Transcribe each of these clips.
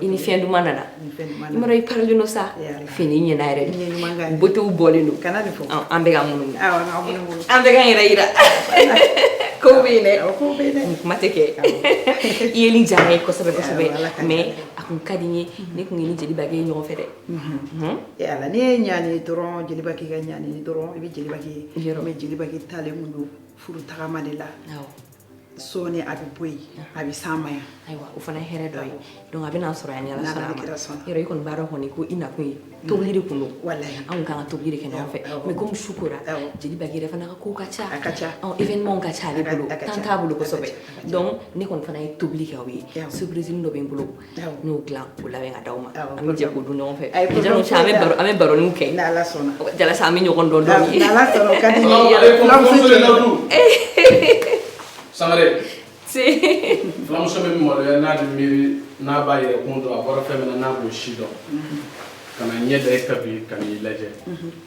i ni fɛn duman nana i m'a dɔn i parilen don sa fini ɲɛna yɛrɛ de botew bɔlen don an bɛ ka munumunu an bɛ ka yɛrɛ yira kow bɛ yen dɛ nin kuma tɛ kɛ i yeli jara n ye kosɛbɛ kosɛbɛ mais a kun ka di n ye ne kun ye ni jeli bagi ɲɔgɔn fɛ dɛ ala ne ye ɲani dɔrɔn jeli bagi ka ɲani dɔrɔn i bɛ jeli bagi ye mais jeli bagi taalen tun don furu tagama de la sɔɔni a bɛ bɔ yen a bɛ s'an ma yan ayiwa o fana ye hɛrɛ dɔ ye donc a bɛ n'an sɔrɔ yan ni ala sɔnna a ma yɔrɔ i kɔni b'a dɔn kɔni ko i nakun ye tobili de kun don walayi anw kan ka tobili de kɛ ɲɔgɔn fɛ mais comme su kora jeli bagi yɛrɛ fana ka kow ka ca a ka ca ɔ événement ka ca ale bolo temps t'a bolo kosɛbɛ donc ne kɔni fana ye tobili kɛ aw ye surprise dɔ bɛ n bolo n b'o dilan k'o labɛn ka di aw ma an bɛ jɛ k'o dun ɲɔgɔn fɛ an bɛ baro kɛ jalasa an bɛ ɲɔgɔn dɔn sangare fulamuso bɛ maloya n'a miiri n'a b'a yɛrɛ kun dɔn a bɔra fɛn min na n'a b'o si dɔn kana ɲɛ da e ka bi ka i lajɛ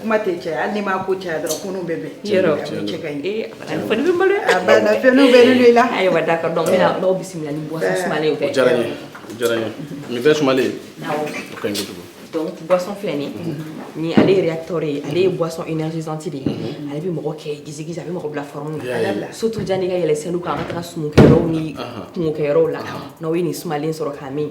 Kuma tɛ cɛ hali ma ko cɛ dɔrɔn bɛ bɛ bisimila boisson filɛ nin ale réacteur ale ye boisson énergisante de ye ale bɛ mɔgɔ kɛ di a bɛ mɔgɔ bila forme la surtout yanni n ka yɛlɛ scène kan an ka taa sumu kɛ yɔrɔ ni kɔɲɔ kɛ yɔrɔ la n'aw ye nin sumalen sɔrɔ ka min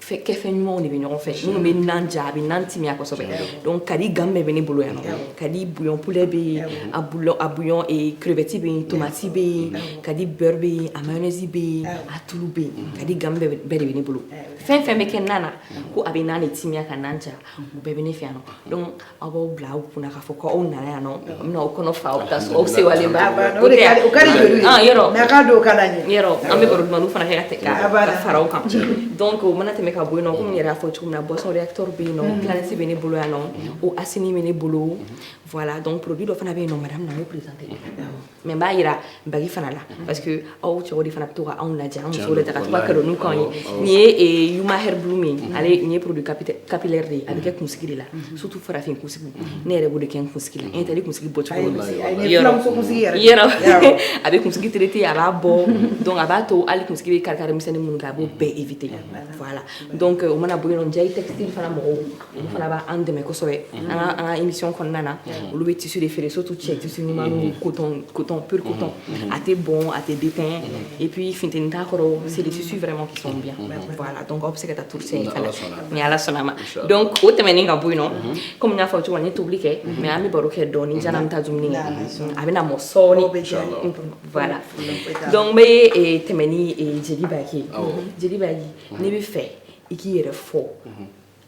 kɛfɛn ɲumanw de bɛ ɲɔgɔn fɛ minnu bɛ nan ja a bɛ nan timiya kosɛbɛ donc kadi gamme bɛɛ bɛ ne bolo yan nɔ kadi bouillon poulet bɛ yen a bouillon a bouillon crevette bɛ yen tomati bɛ yen kadi beurre bɛ yen a mayonnaise bɛ yen a tulu bɛ yen kadi gamme bɛɛ de bɛ ne bolo fɛn fɛn bɛ kɛ nan na ko a bɛ nan de timiya ka nan ja u bɛɛ bɛ ne fɛ yan nɔ donc aw b'aw bila aw kunna k'a fɔ ko aw nana yan nɔ n bɛna aw kɔnɔ fa aw bɛ taa so aw sewalen ba o de ka o ka di jeli ye yɔrɔ mɛ a ka don o ka d'an ye yɔrɔ an bɛ baro dumanw fana kɛ ka tɛ ka ka fara o kan donc o mana tɛmɛ ka bɔ yen nɔ komi n yɛrɛ y'a fɔ cogo min na boisson réacteur bɛ yen nɔ planète bɛ ne bolo yan nɔ eau assinie bɛ ne bolo voilà donc produit dɔ fana bɛ yen nɔ madame na n b'o présenter mais n b'a jira bagi fana la parce que aw cɛw de fana bɛ to ka anw lajɛ an musow lajɛ ka to ka cadeau ninnu k'an ye nin ye yuma hair blooming ale nin ye produit capillaire de ye a bɛ kɛ kunsigi de la surtout farafin kunsigi ne yɛrɛ b'o de kɛ n kunsigi la n tɛ kunsigi bɔ cogo yɔrɔ a bɛ kunsigi traiter a b'a bɔ donc a b'a to hali kunsigi bɛ kari kari misɛnnin minnu kɛ a b'o bɛɛ éviter voilà donc o mana bɔ yen nɔ Ndiaye textile fana mɔgɔw olu fana b'an dɛmɛ kosɛbɛ an ka an ka émission kɔnɔna na olu bɛ tissu de feere surtout cɛ tissu ɲumanw coton coton pur coton a tɛ bɔn a tɛ déteint et puis funteni t'a kɔrɔ c'est des tissus vraiment qui sont bien voilà donc aw bɛ se ka taa touriste in fana ni ala sɔnna a ma donc o tɛmɛnen ka bɔ yen nɔ comme n y'a fɔ cogo min na n ye tobili kɛ mais an bɛ baro kɛ dɔɔni janni an bɛ taa dumuni kɛ a bɛna mɔ sɔɔni voilà donc n bɛ tɛmɛ ni jeli baki ye jeli baki ne b'a fɛ i k'i yɛrɛ fɔ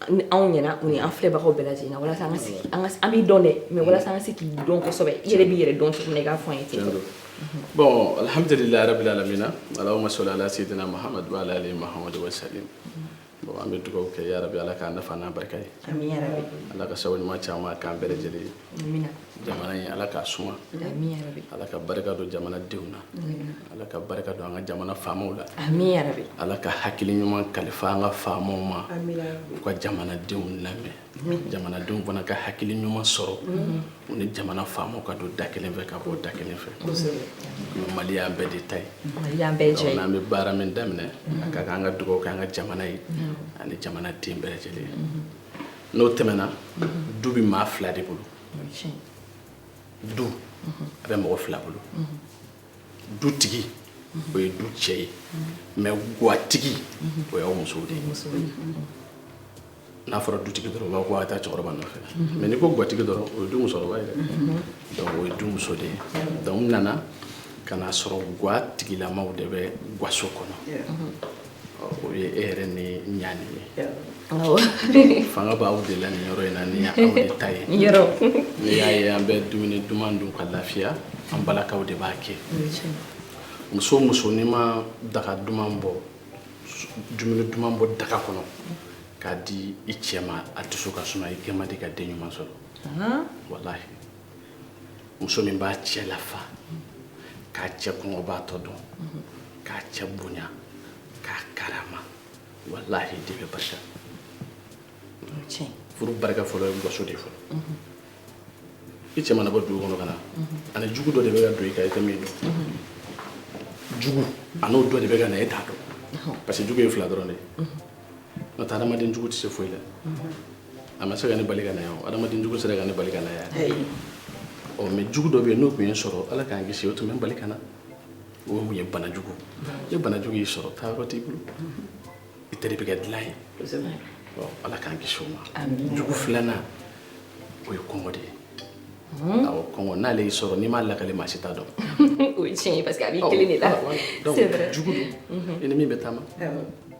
anw ɲɛna u ni an filɛbagaw bɛɛ lajɛlen na walasa an ka se k'i- an ka se- an b'i dɔn dɛ mais walasa an ka se k'i dɔn kosɛbɛ i yɛrɛ b'i yɛrɛ dɔn cogo min na i k'a fɔ an ye ten bon alhamdulilayi rabbil alamina alahuma sɔli ala sidina mahamadu wa ala ali mahamadu wa salim bon an bɛ dugawu kɛ yarabi ala k'a nafa n'a barika ye Amina yarabi. ala ka sababu ɲuman caman k'an bɛɛ lajɛlen ye jamana ye ala k'a suma ala ka barika don jamana denw na ala ka barika don an ka jamana faamaw la ala ka hakili ɲuman kalifa an ka faamaw ma u ka jamana denw lamɛn jamana denw fana ka hakili ɲuman sɔrɔ u ni jamana faamaw ka don da kelen fɛ ka bɔ da kelen fɛ mali y'an bɛɛ de ta ye n'an bɛ baara min daminɛ a ka kan an ka dugawu kɛ an ka jamana ye ani jamana den bɛɛ lajɛlen n'o tɛmɛna du bɛ maa fila de bolo du a bɛ mɔgɔ fila bolo dutigi o ye du cɛ ye mais gatigi o y'aw musow de ye n'a fɔra dutigi dɔrɔn u b'a fɔ ko a taa cɛkɔrɔba nɔfɛ mais n'i ko gatigi dɔrɔn o ye du musokɔrɔba ye dɛ o ye du muso de ye donc n nana ka n'a sɔrɔ gatigilamaw de bɛ gaso kɔnɔ o ye e yɛrɛ ni ɲani ye fanga b'aw de la nin yɔrɔ in na nin y'aw de ta ye n'i y'a ye an bɛ dumuni duman dun ka lafiya an balakaw de b'a kɛ muso o muso n'i ma daga duman bɔ dumuni duman bɔ daga kɔnɔ k'a di i cɛ ma a dusu ka suma i kɛ man di ka den ɲuman sɔrɔ walahi muso min b'a cɛ lafa k'a cɛ kɔngɔbaatɔ dɔn k'a cɛ bonya k'a karama walahi den bɛ barika furu barika fɔlɔ ye gaso de fɔlɔ i cɛ mana bɔ dugu kɔnɔ ka na a ni jugu dɔ de bɛ ka don i kan i tɛ min dɔn jugu a n'o dɔ de bɛ ka na e t'a dɔn parce que jugu ye fila dɔrɔn de ye n'o tɛ hadamaden jugu tɛ se foyi la a ma se ka ne bali ka na yan o hadamaden jugu sera ka ne bali ka na yan ɔ mais jugu dɔ bɛ yen n'o tun ye n sɔrɔ ala k'an kisi o tun bɛ n bali ka na o mun ye bana jugu ni bana jugu y'i sɔrɔ taa yɔrɔ t'i bolo i teri bɛ kɛ dilan ye ɔ ala k'an kisi o ma jugu filanan o ye kɔngɔ de ye awɔ kɔngɔ n'ale y'i sɔrɔ n'i m'a lakale maa si t'a dɔn o ye tiɲɛ ye parce que a b'i kelen de la c'est vrai jugu don i ni min bɛ taama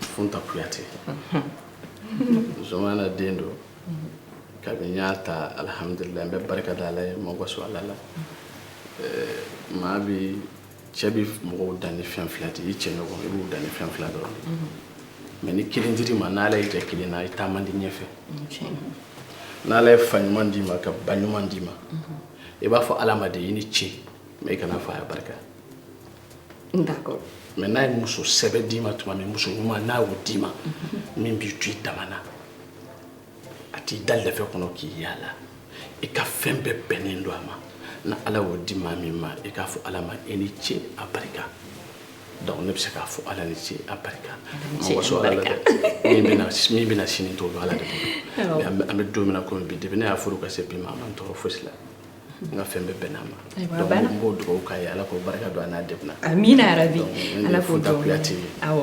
Futa kuyate Zumana den don kabini n y'a ta alihamdulila n bɛ barika da ala ye n ma waso ala la maa bɛ cɛ bɛ mɔgɔw dan ni fɛn fila de i cɛ ɲɔgɔn i b'u dan ni fɛn fila dɔrɔn mais ni kelen dir'i ma n'ala y'i jɛ kelen na i taa man di ɲɛfɛ n'ala ye fa ɲuman d'i ma ka ba ɲuman d'i ma i b'a fɔ ala ma de i ni ce mais i kana f'a ye a barika mais n'a ye muso sɛbɛ d'i ma tuma min muso ɲuman n'a y'o d'i ma min b'i to i dama na a t'i da lɛfɛ kɔnɔ k'i yaala i ka fɛn bɛɛ bɛnnen don a ma n'ala y'o di maa min ma i k'a fɔ ala ma i ni ce a barika donc ne bɛ se k'a fɔ ala ni ce a barika n ma waso ala la dɛ min bɛna min bɛna sini n t'o dɔn ala de bolo an bɛ don min na komi bi depuis ne y'a furu ka se bi ma a ma n tɔɔrɔ fosi la n ka fɛn bɛɛ bɛnn'a ma n b'o dugawu k'a ye ala k'o barika don a n'a denw na amina yarabi ala k'o Futa kuyate awɔ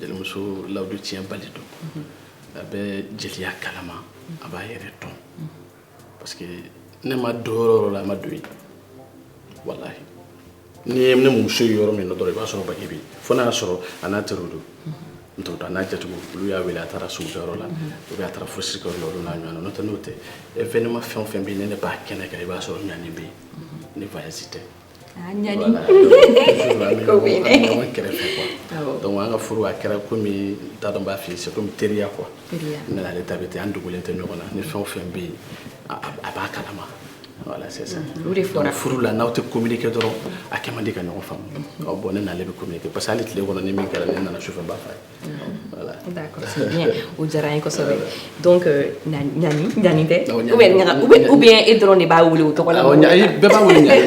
jelimuso lawudu tiɲɛ bali don mhm. a bɛ jeliya kalama a b'a yɛrɛ dɔn mhm. parce que ne ma don yɔrɔ o yɔrɔ la a ma don yen walahi n'i ye ne muso ye yɔrɔ min na dɔrɔn i b'a sɔrɔ baki bɛ yen fo n'a y'a sɔrɔ a n'a teriw don n t'o dɔn a n'a jatigiw olu y'a wele a taara sugujɔyɔrɔ la ou bien a taara furusirikɛyɔrɔ la olu n'a ɲɔgɔnna n'o tɛ n'o tɛ événement fɛn o fɛn bɛ yen ni ne b'a kɛnɛ kan i b'a sɔrɔ ɲani bɛ yen ni voyage tɛ ah, ɲani an bɛ ɲɔgɔn kɛrɛfɛ quoi donc an ka furu a kɛra komi n t'a dɔn n b'a f'i ye c'est comme teriya quoi ne n'ale ta bɛ ten an dogolen tɛ ɲɔgɔn na ni fɛn o fɛn bɛ yen a b'a kalama furu la n'aw tɛ communiquer dɔrɔn a kɛ man di ka ɲɔgɔn faamu bon ne n'ale bɛ communiquer parce que hali tile kɔnɔ ni min kɛra ne nana sufɛ n b'a f'a ye d'accord o diyara n ye kosɛbɛ donc ɲani tɛ ou bien e dɔrɔn de b'a wele o tɔgɔ la bɛɛ b'a wele ɲani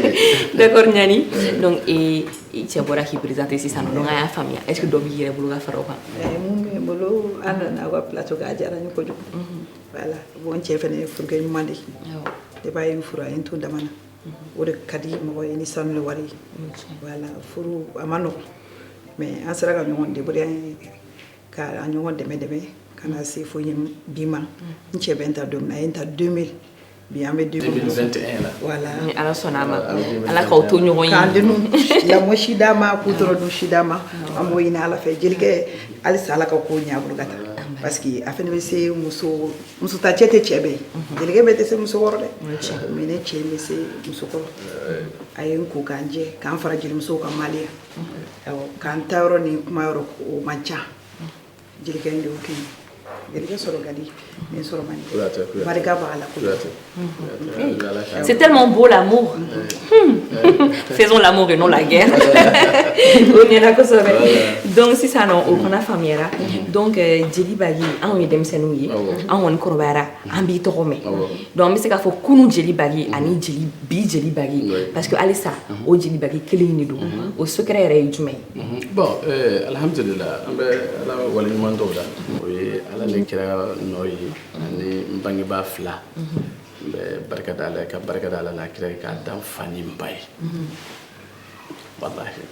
d'accord ɲani donc i cɛ bɔra k'i présenter sisan donc an y'a faamuya est-ce que dɔ b'i yɛrɛ bolo ka fara o kan mun bɛ n bolo an nana aw ka plateau kan a diyara n ye kojugu voilà bon n cɛ fana ye furukɛ ɲuman de ye ba a ye n furu a ye n to dama na mhm. o de ka di mɔgɔ ye ni sanu ni wari ye voilà furu a ma nɔgɔn mais an sera ka ɲɔgɔn débrouiller ka an ɲɔgɔn dɛmɛ dɛmɛ ka na se fo bi ma mhm. n cɛ bɛ n ta don min na a ye n ta 2000 Bi an bɛ 2021 la voilà ni ala sɔnna a ma ala k'aw to ɲɔgɔn ye k'an denw lamɔ si d'a ma k'u tɔnɔ dun si d'a ma an b'o ɲini ala fɛ jelikɛ halisa ala ka ko ɲɛ a bolo ka taa parce que a fana bɛ se muso ta cɛ tɛ cɛ bɛɛ jelikɛ bɛɛ tɛ se muso kɔrɔ dɛ mais ne cɛ bɛ se muso kɔrɔ a ye n ko ka n jɛ ka n fara jelimusow kan maloya kan n taa yɔrɔ ni kuma yɔrɔ o man ca jelikɛ in de y'o kɛ jelikɛ sɔrɔ ka di ni sɔrɔ man di Kuyate, Kuyate. barika b'a la Kuyate. Kuyate. Ala ka- C'est tellement beau l'amour. Hmm. Faisons l'amour et non la guerre. o ɲɛna kosɛbɛ. Donc sisan nɔ o fana faamuyara. Donc euh, jeli baki anw ye denmisɛnninw ye. Awɔ. An kɔni kɔrɔbayara an b'i tɔgɔ mɛn. Awɔ. Donc an bɛ se k'a fɔ kunun jeli baki ani bi jeli baki Oui. parce que halisa o jeli baki kelen in de don. O secret yɛrɛ ye jumɛn ye? Bon alihamdulila an bɛ ala wale ɲuman dɔn la o ye ala ni kira nɔ ye ani n bangebaa fila n bɛ barika da ala ye ka barika da ala n'a kira ye k'a da n fa ni n ba ye walahi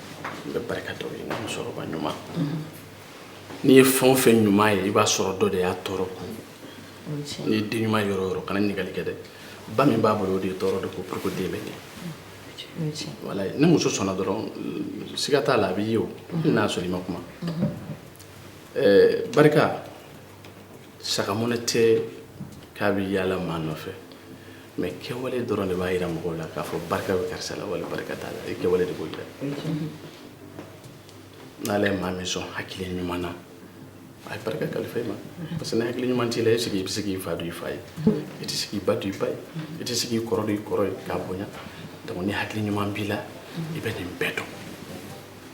n bɛ barika da u ye musokɔrɔba ɲuman n'i ye fɛn o fɛn ɲuman ye i b'a sɔrɔ dɔ de y'a tɔɔrɔ kun n'i ye den ɲuman yɔrɔ o yɔrɔ kana ɲininkali kɛ dɛ ba min b'a bolo o de ye tɔɔrɔ de kun pour que den bɛ ɲɛ ni muso sɔnna dɔrɔn siga t'a la a bɛ ye o n'a sɔrɔ i ma kuma barika saga mɔnɛ tɛ k'a bɛ yaala maa nɔfɛ mais kɛwale dɔrɔn de b'a jira mɔgɔw la k'a fɔ barika bɛ karisa la wala barika t'a la i kɛwale de b'o jira n'ala ye maa min sɔn hakili ɲuman na a ye barika kalifa i ma parce que ni hakili ɲuman t'i la est ce que i bɛ se k'i fa dɔn i fa ye i tɛ se k'i ba dɔn i ba ye i tɛ se k'i kɔrɔ dɔn i kɔrɔ ye k'a bonya donc ni hakili ɲuman b'i la i bɛ nin bɛɛ dɔn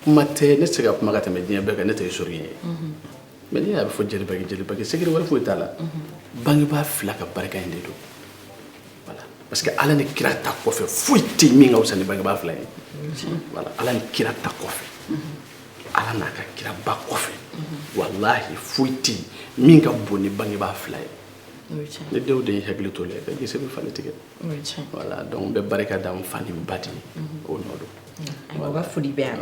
kuma tɛ ne tɛ se ka kuma ka tɛmɛ diɲɛ bɛɛ kan ne tɛ historien ye mais n'i y'a bɛ fɔ jelibaki jelibaki secret wɛrɛ foyi t'a la bangebaa fila ka barika in de don voilà parce que ala ni kira ta kɔfɛ foyi tɛ yen min ka fisa ni bangebaa fila ye voilà ala ni kira ta kɔfɛ ala n'a ka kira ba kɔfɛ walahi foyi tɛ min ka bon ni bangebaa fila ye ne denw de ye hakili to la ka gese bɛ falen tigɛ voilà donc n bɛ barika da n fa ni n ba de ye o nɔ don ayiwa ka foli bɛ yan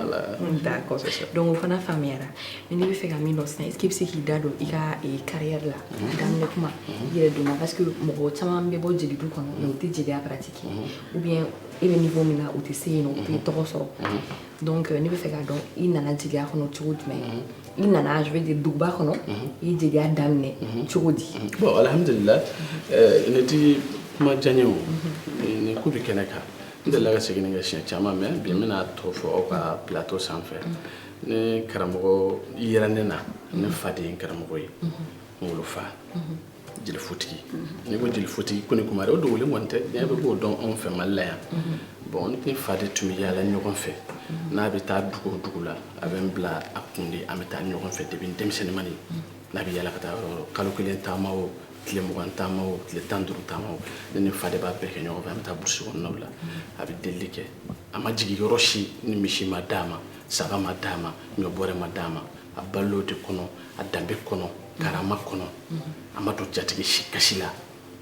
d'accord donc o fana faamuyara mais ne bɛ fɛ ka min dɔn sisan est ce que i bɛ se k'i da don i ka carrière la daminɛ kuma i yɛrɛ donna parce que mɔgɔ caman bɛ bɔ jelidu kɔnɔ mais u tɛ jeliya pratiquer ou bien e bɛ niveau min na u tɛ se yen nɔ u tɛ tɔgɔ sɔrɔ Donc ne bɛ fɛ k'a dɔn i nana jeliya kɔnɔ cogo jumɛn i nana je veux dire duguba kɔnɔ i ye jeliya daminɛ cogo di bon alhamdulila ne ti kuma janya o ne ko bɛ kɛnɛ kan n delila ka segin nin kan siɲɛ caman mais bi n bɛna tɔ fɔ aw ka plateau sanfɛ ne karamɔgɔ yera ne na ne fa de ye n karamɔgɔ ye n wolofa jelifotigi n'i ko jelifotigi koni kumare o dogolen kɔni tɛ diɲɛ bɛɛ b'o dɔn anw fɛ mali la yan bon ne ni n fa de tun bɛ yaala ɲɔgɔn fɛ n'a bɛ taa dugu o dugu la a bɛ n bila a kun de an bɛ taa ɲɔgɔn fɛ depuis denmisɛnninmani n'a bɛ yaala ka taa yɔrɔ kalo kelen taama o tile mugan taama o tile tan duuru taama o ne ni fa de b'a bɛɛ kɛ ɲɔgɔn fɛ an bɛ taa burusi kɔnɔnaw la a bɛ delili kɛ a ma jigin yɔrɔ si ni misi ma d'a ma saga ma d'a ma ɲɔ bɔrɛ ma d'a ma a balo de kɔnɔ a danbe kɔnɔ karama kɔnɔ a ma don jatigi si kasi la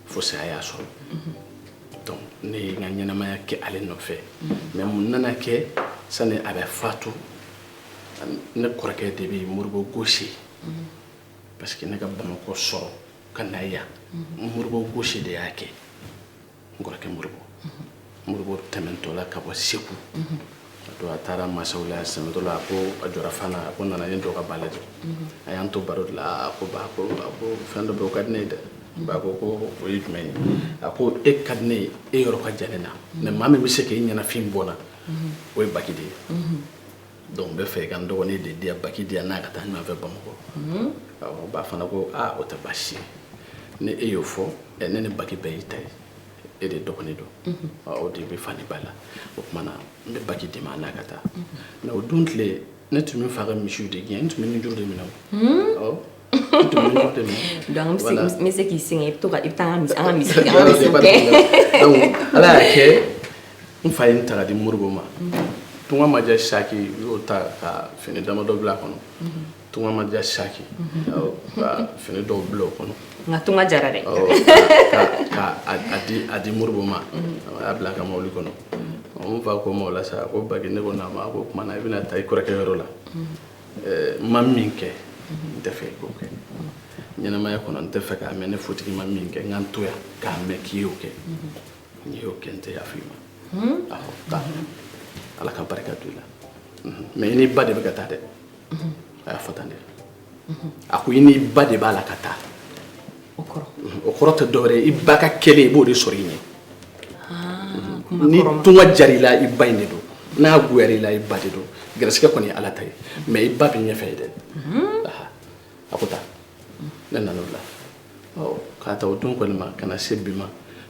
fo saya y'a sɔrɔ donc ne ye n ka ɲɛnamaya kɛ ale nɔfɛ mais mun nana kɛ sani a bɛ fatu ne kɔrɔkɛ de bɛ moribo gosi parce que ne ka bamakɔ sɔrɔ ka na yan moribo gosi de y'a kɛ n kɔrɔkɛ moribo moribo tɛmɛntɔ la ka bɔ segu donc a taara masaw la sɛmɛtɔ la a ko a jɔra fana a ko nana ni dɔ ka ba lajɛ a y'an to baro de la a ko ba ko a ko fɛn dɔ bɛ o ka di ne ye dɛ ba ko ko o ye jumɛn ye a ko e ka di ne ye e yɔrɔ ka jan ne na mais maa min bɛ se k'e ɲɛnafin bɔ n na o ye baki de ye donc n bɛ fɛ i ka n dɔgɔnin de di yan baki di yan n'a ka taa ɲɔgɔn fɛ bamakɔ mhm. awɔ ba fana ko aa o tɛ baasi ye ni e y'o fɔ ɛ ne ni baki bɛɛ y'i ta ye e de dɔgɔnin don mhm. o de bɛ fa ni ba la o tuma na n bɛ baki d'i ma n'a ka taa mais mhm. o don tile ne tun bɛ fa ka misiw de gɛn n tun bɛ nunjuru de minɛ o An bɛ se k'i sɛgɛn i bɛ to i bɛ taa misi ala y'a kɛ n fa ye n ta ka di moribo ma tunga ma diya saki u y'o ta ka fini damadɔ bila a kɔnɔ tunga ma diya saki fini dɔw bila o kɔnɔ nka tunga jara dɛ a di moribo ma a y'a bila a ka mobili kɔnɔ n fa ko n ma o la sa ko baki ne ko naamu a ko o tuma na i bɛna taa i kɔrɔkɛ yɔrɔ la ma min kɛ n tɛ fɛ i k'o kɛ ɲɛnamaya kɔnɔ n tɛ fɛ k'a mɛn ne fotigi ma min kɛ n ka n to yan k'a mɛn k'i y'o kɛ n'i y'o kɛ n tɛ yafa i ma awɔ taa ala ka barika don i la mais i n'i ba de bɛ ka taa dɛ a y'a fɔ tan dɛ a ko i n'i ba de b'a la ka taa o kɔrɔ tɛ dɔwɛrɛ i ba ka kɛlen i b'o de sɔrɔ i ɲɛ ah, ni tunga jara i la i ba in de don n'a goyara i la i ba de don gɛrɛsɛgɛ kɔni ye ala ta ye mais i ba bɛ ɲɛfɛ ye dɛ mhm. a ko taa ne nana o la k'a ta o don kɔni ma ka na se bi ma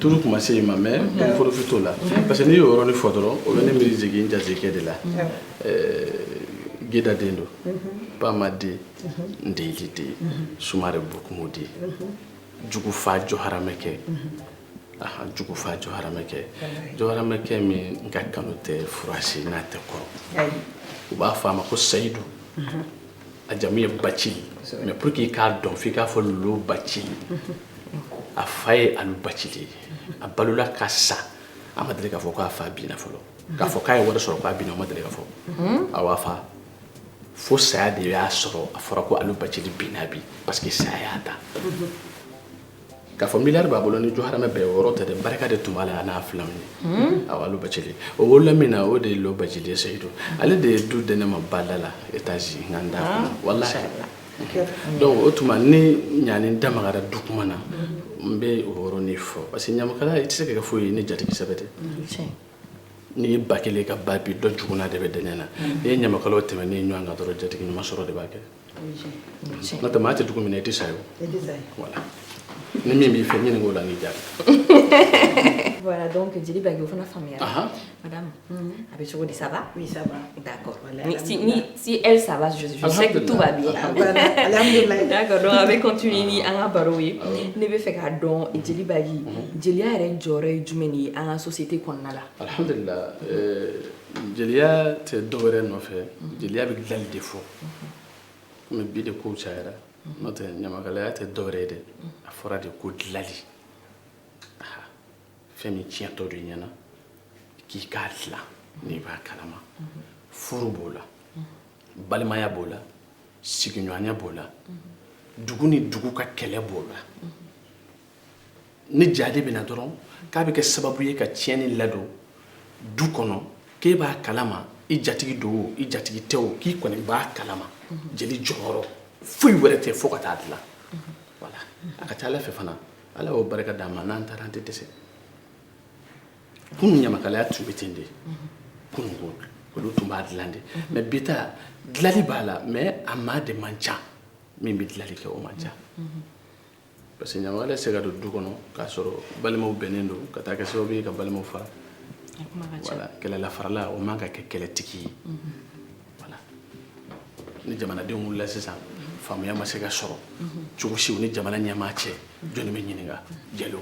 tulu kuma se ma mais profit t'o la parce que n'i y'o yɔrɔnin fɔ dɔrɔn o bɛ ne miiri jigin n jatigikɛ de la geda den don bama den ndeyili den sumare bokumu den jugufa jɔ haramɛkɛ aa jugufa jɔ haramɛkɛ jɔ haramɛkɛ min n ka kanu tɛ furasi n'a tɛ kɔrɔ u b'a fɔ a ma ko seyidu a jamu ye bacili mais pour que i k'a dɔn f'i k'a fɔ lolo bacili a fa ye alu bacili ye a balola ka sa a ma deli k'a fɔ k'a fa binna fɔlɔ k'a fɔ k'a ye wari sɔrɔ k'a binna o ma deli ka fɔ a b'a fa fo saya de y'a sɔrɔ a fɔra ko alu bacili binna bi parce que saya y'a ta K'a fɔ miliyari b'a bolo ni jo hamɛ bɛɛ yɔrɔ tɛ dɛ barika de tun b'a la n'a fila ye awɔ lo bacili o wolola min na o de ye lo bacili ye seyidu ale de ye du di ne ma badala étage n da voilà donc o tuma ne ɲani da magara du kuma na n bɛ o de fɔ parce que ɲamakala i tɛ se ka kɛ foyi ye ni jatigi sɛbɛ tɛ n'i ye ba kelen ka ba bin dɔ jukuna de bɛ dɛnɛ na n'i ye ɲamakala tɛmɛnen ye ɲɔgɔn kan dɔrɔn jatigi ɲuman sɔrɔ de b'a kɛ n'o tɛ maa tɛ dugu min na i tɛ sa yen o ni min b'i fɛ ɲinink'o la n'i jaabi voilà donc jeli bagi o fana faamuyara madame a bɛ cogo di ça va oui ça va d'accord si elle ça va je sais que tout va bien alhamdulilayi d'accord donc an bɛ continuer ni an ka barow ye ne bɛ fɛ k'a dɔn jeli bagi jeliya yɛrɛ jɔyɔrɔ ye jumɛn de ye an ka société kɔnɔna la alhamdulilayi jeliya tɛ dɔ wɛrɛ nɔfɛ jeliya bɛ dilanli de fɔ komi bi de kow cayara n'o tɛ ɲamakalaya tɛ dɔ wɛrɛ ye dɛ a fɔra de ko dilanli fɛn min tiɲɛtɔ don i ɲɛ na k'i k'a dilan n'i b'a kalama furu b'o la balimaya b'o la sigiɲɔgɔnya b'o la dugu ni dugu ka kɛlɛ b'o la ni jahadi bɛ na dɔrɔn k'a bɛ kɛ sababu ye ka tiɲɛni ladon du kɔnɔ k'e b'a kalama i jatigi don o i jatigi tɛ o k'i kɔni b'a kalama jeli jɔyɔrɔ foyi wɛrɛ tɛ fo ka taa dilan voilà a ka ca ala fɛ fana ala y'o barika d'an ma n'an taara an tɛ dɛsɛ kunun ɲamakalaya tun bɛ ten de kunun ko olu tun b'a dilan de mais bi ta dilanli b'a la mais a maa de man ca min bɛ dilanli kɛ o man ca Parce que ɲamakala se ka don du kɔnɔ k'a sɔrɔ balimaw bɛnnen don ka taa kɛ sababu ye ka balimaw fara kɛlɛla farala o man ka kɛ kɛlɛtigi ye ni jamanadenw wulila sisan faamuya ma se ka sɔrɔ cogo si u ni jamana ɲɛmaa cɛ jɔni bɛ ɲininka jalo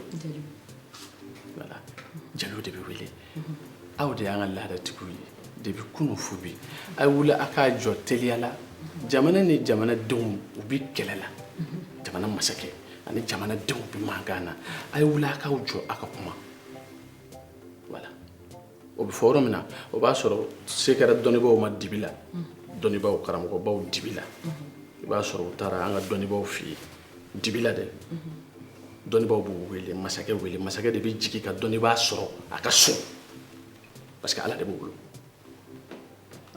jeliw de bɛ wele aw de y'an ka laadatigiw ye depuis kunun fo bi a ye wuli a k'a jɔ teliya la jamana ni jamanadenw u bi kɛlɛ la jamana masakɛ ani jamanadenw bi mankan na a ye wuli a k'aw jɔ a ka kuma voilà o bɛ fɔ yɔrɔ min na o b'a sɔrɔ se kɛra dɔnnibaaw ma dibi la dɔnnibaaw karamɔgɔbaw dibi la i b'a sɔrɔ u taara an ka dɔnnibaaw fɛ yen dibi la dɛ dɔnnibaaw b'u wele masakɛ wele masakɛ de bɛ jigin ka dɔnnibaa sɔrɔ a ka so parce que ala de b'o bolo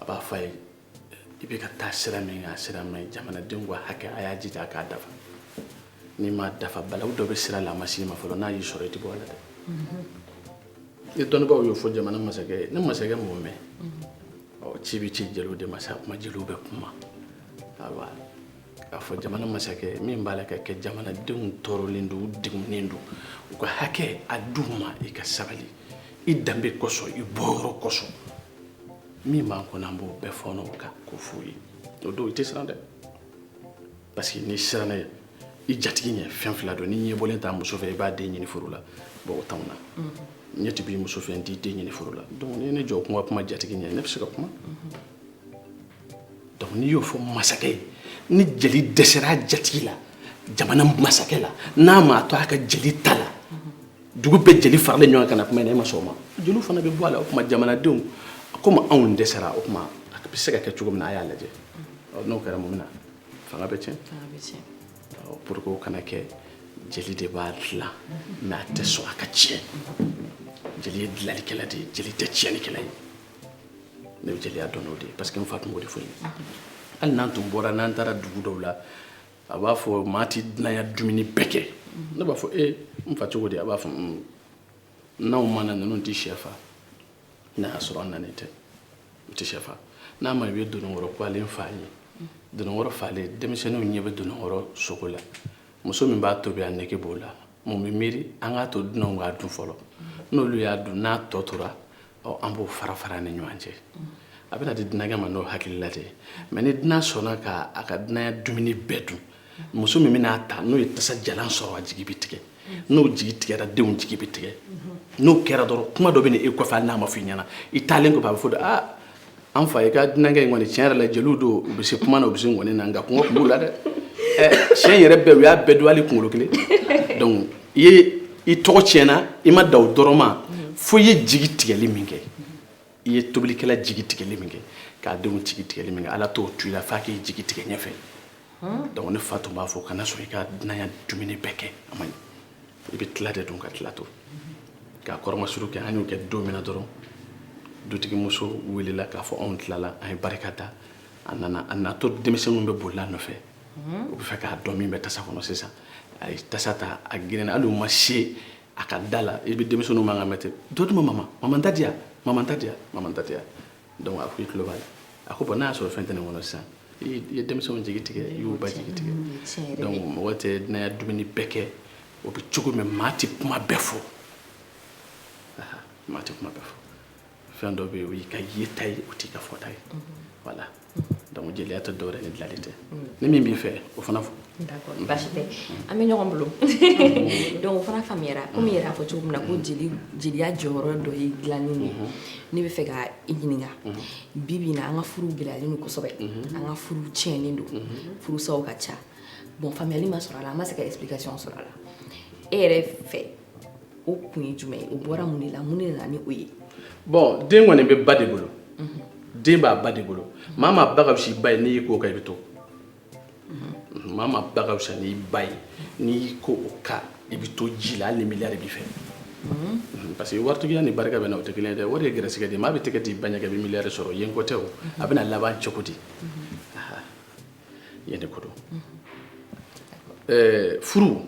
a b'a fɔ a ye i bɛ ka taa sira min kan a sira man ɲi jamanadenw ka hakɛ a y'a jija a k'a dafa n'i m'a dafa balawu dɔ bɛ sira la a ma s'i ma fɔlɔ n'a y'i sɔrɔ i tɛ bɔ a la dɛ ni dɔnnibaaw y'o fɔ jamana masakɛ ye ni masakɛ m'o mɛn ɔ ci bɛ ci jeliw de ma sa kuma jeliw bɛ kuma ayiwa k'a fɔ jamana masakɛ min b'a la ka kɛ jamanadenw tɔɔrɔlen don u degunnen don u ka hakɛ a d'u ma i ka sabali i danbe kosɔn i bɔyɔrɔ kosɔn min b'an kɔnɔ an b'o bɛɛ fɔɔnɔ o kan k'o f'u ye o don i tɛ siran dɛ parce que n'i siranna i jatigi ɲɛ fɛn fila don n'i ɲɛbɔlen t'a muso fɛ i b'a den ɲini furu la bon o t'anw na ɲɛ tɛ b'i muso fɛ n t'i den ɲini furu la donc n'i ye ne jɔ ko n ka kuma jatigi ɲɛ ne bɛ se ka kuma donc n'i y'o fɔ masakɛ ye ni jeli dɛsɛra a jatigi la jamana masakɛ la n'a m'a to a ka jeli ta la dugu bɛɛ jeli faralen ɲɔgɔn kan na kuma in na e ma sɔn o ma jeliw fana bɛ bɔ a la o tuma jamanadenw komi anw dɛsɛra o tuma a bɛ se ka kɛ cogo min na a y'a lajɛ n'o kɛra mun bɛ na fanga bɛ tiɲɛ pour que o kana kɛ jeli de b'a dilan mais a tɛ sɔn a ka tiɲɛ jeli ye dilanlikɛla de ye jeli tɛ tiɲɛlikɛla ye ne bɛ jeliya dɔn n'o de ye parce que n fa tun b'o de fɔ n ye hali n'an tun bɔra n'an taara dugu dɔw la a b'a fɔ maa tɛ dunanya dumuni bɛɛ kɛ ne b'a fɔ e n fa cogo di a b'a fɔ mm, n'anw ma na ninnu tɛ sɛ fa n'a y'a sɔrɔ an nanen tɛ u tɛ sɛ fa n'a ma i bɛ dononkɔrɔ kwalen fa ye dononkɔrɔ falen denmisɛnninw ɲɛ bɛ dononkɔrɔ sogo la muso min b'a tobi a nege b'o la mun bɛ miiri an k'a to dunanw k'a dun fɔlɔ n'olu y'a dun n'a tɔ tora ɔ an b'o fara fara ni ɲɔgɔn cɛ a bɛna di dunankɛ ma n'o hakilila de ye mais ni dunan sɔnna ka a ka dunanya dumuni bɛɛ dun muso min bɛna a ta n'o ye tasa jalan sɔrɔ a jigi bɛ tigɛ n'o jigi tigɛra denw jigi bɛ tigɛ n'o kɛra dɔrɔn kuma dɔ bɛ na e kɔfɛ hali n'a ma fɔ i ɲɛna i taalen kɔfɛ a bɛ fɔ de aa an fa i ka dunankɛ in kɔni tiɲɛ yɛrɛ la jeliw don u bɛ se kuma na u bɛ se ngɔni na nka kɔngɔ tun b'u la dɛ ɛ tiɲɛ yɛrɛ bɛɛ u y'a bɛɛ dun hali kunkolo kelen donc i tɔgɔ tiɲɛna i ma dan o dɔrɔn ma fo i ye jigi tigɛli min kɛ i ye tobilikɛla jigi tigɛli min kɛ k'a denw jigi tigɛli min kɛ ala t'o to i la f'a k'i jigi tigɛ ɲɛfɛ donc ne fa tun b'a fɔ kana sɔn i ka dunanya dumuni bɛɛ kɛ a man ɲi i bɛ tila de dun ka tila to k'a kɔrɔmasuru kɛ an y'o kɛ don min na dɔrɔn dutigimuso welela k'a fɔ anw tilala an ye barika da a nana a natɔ denmisɛnninw bɛ bolila nɔfɛ u bɛ fɛ k'a dɔn min bɛ tasa kɔnɔ sisan a ye tasa ta a girinna hali u ma se a ka da la i bɛ denmisɛnninw man kan mɛ ten dɔ di ma mama mama da di yan mama da di yan mama da di yan donc a ko i tulo b'a la a ko bon n'a y'a sɔrɔ fɛn tɛ nin kɔnɔ sisan i ye denmisɛnw jigi tigɛ i y'u ba jigi tigɛ donc mɔgɔ tɛ dunanya dumuni bɛɛ kɛ o bɛ cogo min maa tɛ kuma bɛɛ fɔ maa tɛ kuma bɛɛ fɔ fɛn dɔ bɛ yen o y'i ka yeta ye o t'i ka fɔta ye voilà donc jeliya tɛ dɔwɛrɛ ni dilanli tɛ ni min b'i fɛ o fana fɔ An bɛ ɲɔgɔn bolo donc o fana faamuyara komi i yɛrɛ y'a fɔ cogo min na ko jeliya jɔyɔrɔ dɔ ye dilanni ye ne bɛ fɛ ka i ɲininka bi bi in na an ka furuw gɛlɛyalen don kosɛbɛ an ka furuw tiɲɛnen don furusaw ka ca bon faamuyali ma sɔrɔ a la an ma se ka explication sɔrɔ a la e yɛrɛ fɛ o kun ye jumɛn ye o bɔra mun de la mun de nana ni o ye bon den kɔni bɛ ba de bolo den b'a ba de bolo maa maa ba ka fisa i ba ye n'i y'i ko o kan i bɛ to maa maa ba ka fisa n'i ba ye n'i y'i ko o kan i bɛ to ji la hali ni miliyari b'i fɛ Mhm, parce que waritigiya ni barika bɛ na o tɛ kelen ye dɛ wari ye gɛrɛsɛgɛ de ye maa bɛ tɛgɛ d'i ba ɲɛ kɛ i bɛ miliyari sɔrɔ yen ko tɛ o a bɛna laban cogo di Aha, yen de ko don Ɛɛ, furu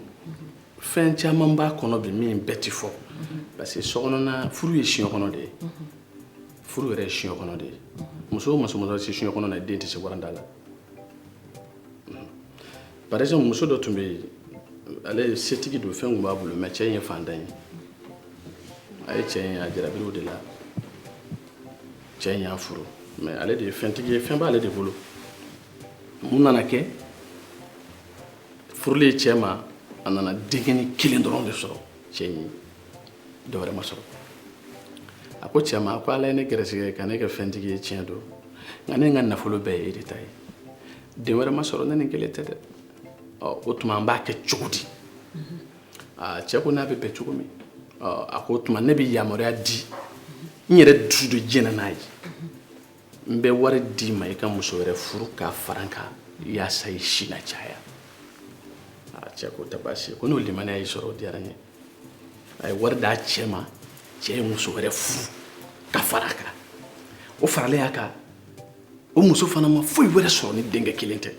fɛn caman b'a kɔnɔ bi min bɛɛ tɛ fɔ parce que sokɔnɔna furu ye siɲɛ kɔnɔ de ye furu yɛrɛ ye siɲɛ kɔnɔ de ye muso o muso mana se siɲɛ kɔnɔ na i den tɛ se waranda la par exemple muso dɔ tun bɛ yen ale ye setigi don fɛn tun b'a bolo mais cɛ in ye fantan ye a ye cɛ in a jarabira o de la cɛ in y'a furu mais ale de ye fɛntigi ye fɛn b'ale de bolo mun nana kɛ furulen cɛ ma a nana denkɛnin kelen dɔrɔn de sɔrɔ cɛ in ye dɔwɛrɛ ma sɔrɔ a ko cɛ ma ko ala ye ne gɛrɛsɛgɛ ka ne kɛ fɛntigi ye tiɲɛ don nka ne ka nafolo bɛɛ ye e de ta ye den wɛrɛ ma sɔrɔ ni nin kelen tɛ dɛ o tuma an b'a kɛ cogo di aa cɛ ko n'a bɛ bɛn cogo min a ko o tuma ne bɛ yamaruya di n yɛrɛ dusu de jɛnna n'a ye n bɛ wari d'i ma i ka muso wɛrɛ furu k'a fara n kan yaasa i si na caya aa cɛ ko tɛ baasi ye ko n'o limaniya y'i sɔrɔ o diyara n ye a ye wari d'a cɛ ma cɛ ye muso wɛrɛ furu ka fara a kan o faralen a kan o muso fana ma foyi wɛrɛ sɔrɔ ni denkɛ kelen tɛ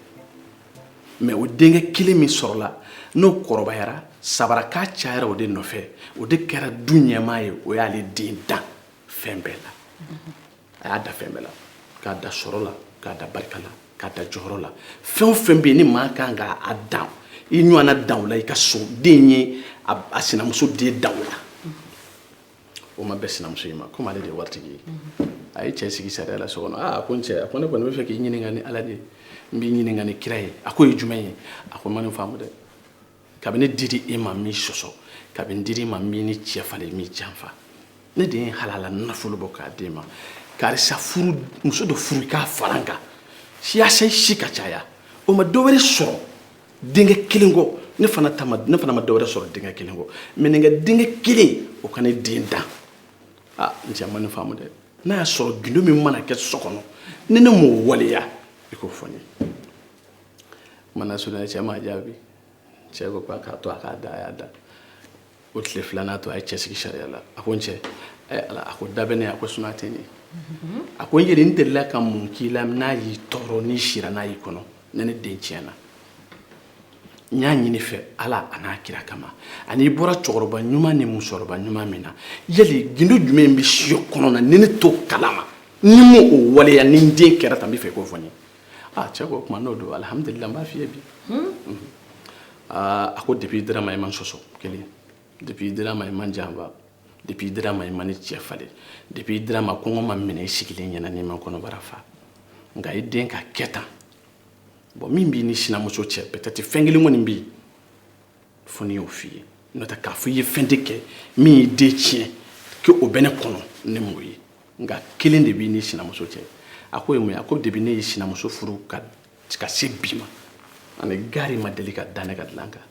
mais o denkɛ kelen min sɔrɔla n'o kɔrɔbayara sabarakan cayara o de nɔfɛ o de kɛra du ɲɛmaa ye o y'ale den dan fɛn bɛɛ la a y'a dan fɛn bɛɛ la k'a dan sɔrɔ la k'a dan barika la k'a dan jɔyɔrɔ la fɛn o fɛn bɛ yen ni maa kan ka a dan i ɲɔgɔnna dan o la i ka so den ye a sinamuso den dan o la o ma bɛn sinamuso in ma komi ale de ye waritigi ye a ye cɛ sigi sariya la so kɔnɔ aa a ko n cɛ a ko ne kɔni bɛ fɛ k'i ɲininka ni ala de ye n b'i ɲininka ni kira ye a k'o ye jumɛn ye a ko n ma nin faamu dɛ kabini n dira i ma n m'i sɔsɔ kabini n dira i ma n m'i ni cɛ falen n m'i janfa ne de ye halala nafolo bɔ k'a d'e ma karisa furu muso dɔ furu k'a fara n kan yaasa i si ka caya o ma dɔ wɛrɛ sɔrɔ denkɛ kelen kɔ ne fana ta ma ne fana ma dɔ wɛrɛ sɔrɔ denkɛ kelen kɔ mais nin ka denkɛ kelen o ka ne den dan aa n cɛ n ma nin faamu dɛ n'a y'a sɔrɔ gindo min mana kɛ so kɔnɔ ni ne m'o waleya i k'o fɔ n ye mana surunya cɛ m'a jaabi cɛ ko k'a k'a to a k'a da a y'a da o tile filanan to a ye cɛ sigi sariya la a ko n cɛ ala a ko da bɛ ne a ko sun tɛ n ye a ko n yɛrɛ n delila ka mun k'i la n'a y'i tɔɔrɔ ni sira n'a y'i kɔnɔ ne ne den tiɲɛna n y'a ɲini i fɛ ala a n'a kira kama ani i bɔra cɛkɔrɔba ɲuman ni musokɔrɔba ɲuman min na yali gindo jumɛn bɛ siyɔ kɔnɔ na ni ne t'o kalama ne m'o waleya ni n den kɛra tan n b'a fɛ i k'o fɔ n ye aa cɛ ko o tuma n'o don alihamudulila n b'a f'i ye bi aa a ko depuis i dira n ma i ma n sɔsɔ kelen depuis i dira n ma i ma n janfa depuis i dira n ma i ma n ni cɛ falen depuis i dira n ma kɔngɔ ma n minɛ i sigilen ɲɛ na n'i ma n kɔnɔbara fa nka i den ka kɛ tan bon min b'i ni sinamuso cɛ peut être fɛn kelen kɔni bɛ yen fo ne y'o f'i ye n'o tɛ k'a fɔ i ye fɛn de kɛ min y'i den tiɲɛ k'o bɛ ne kɔnɔ ne m'o ye nka kelen de b'i ni sinamuso cɛ a k'o ye mun ye a ko depuis ne ye sinamuso furu ka ka se bi ma a ni gari ma deli ka da ne ka dilan kan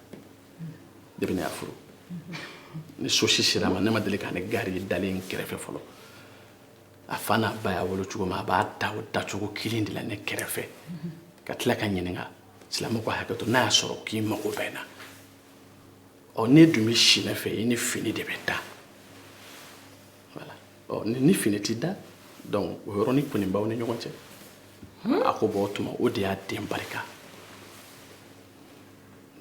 depuis ne y'a furu ni so si sera a ma ne ma deli k'a ni gari ye dalen n kɛrɛfɛ fɔlɔ a fa n'a ba y'a wolo cogo min a b'a da o dacogo kelen de la ne kɛrɛfɛ ka tila ka n ɲininka silamɛ ko hakɛ to n'a y'a sɔrɔ k'i mago bɛ n na ɔ n'e dun bɛ si ne fɛ i ni fini de bɛ da ni fini t'i da donc o yɔrɔnin kɔni b'aw ni ɲɔgɔn cɛ hmm? a ko bon o tuma o de y'a den barika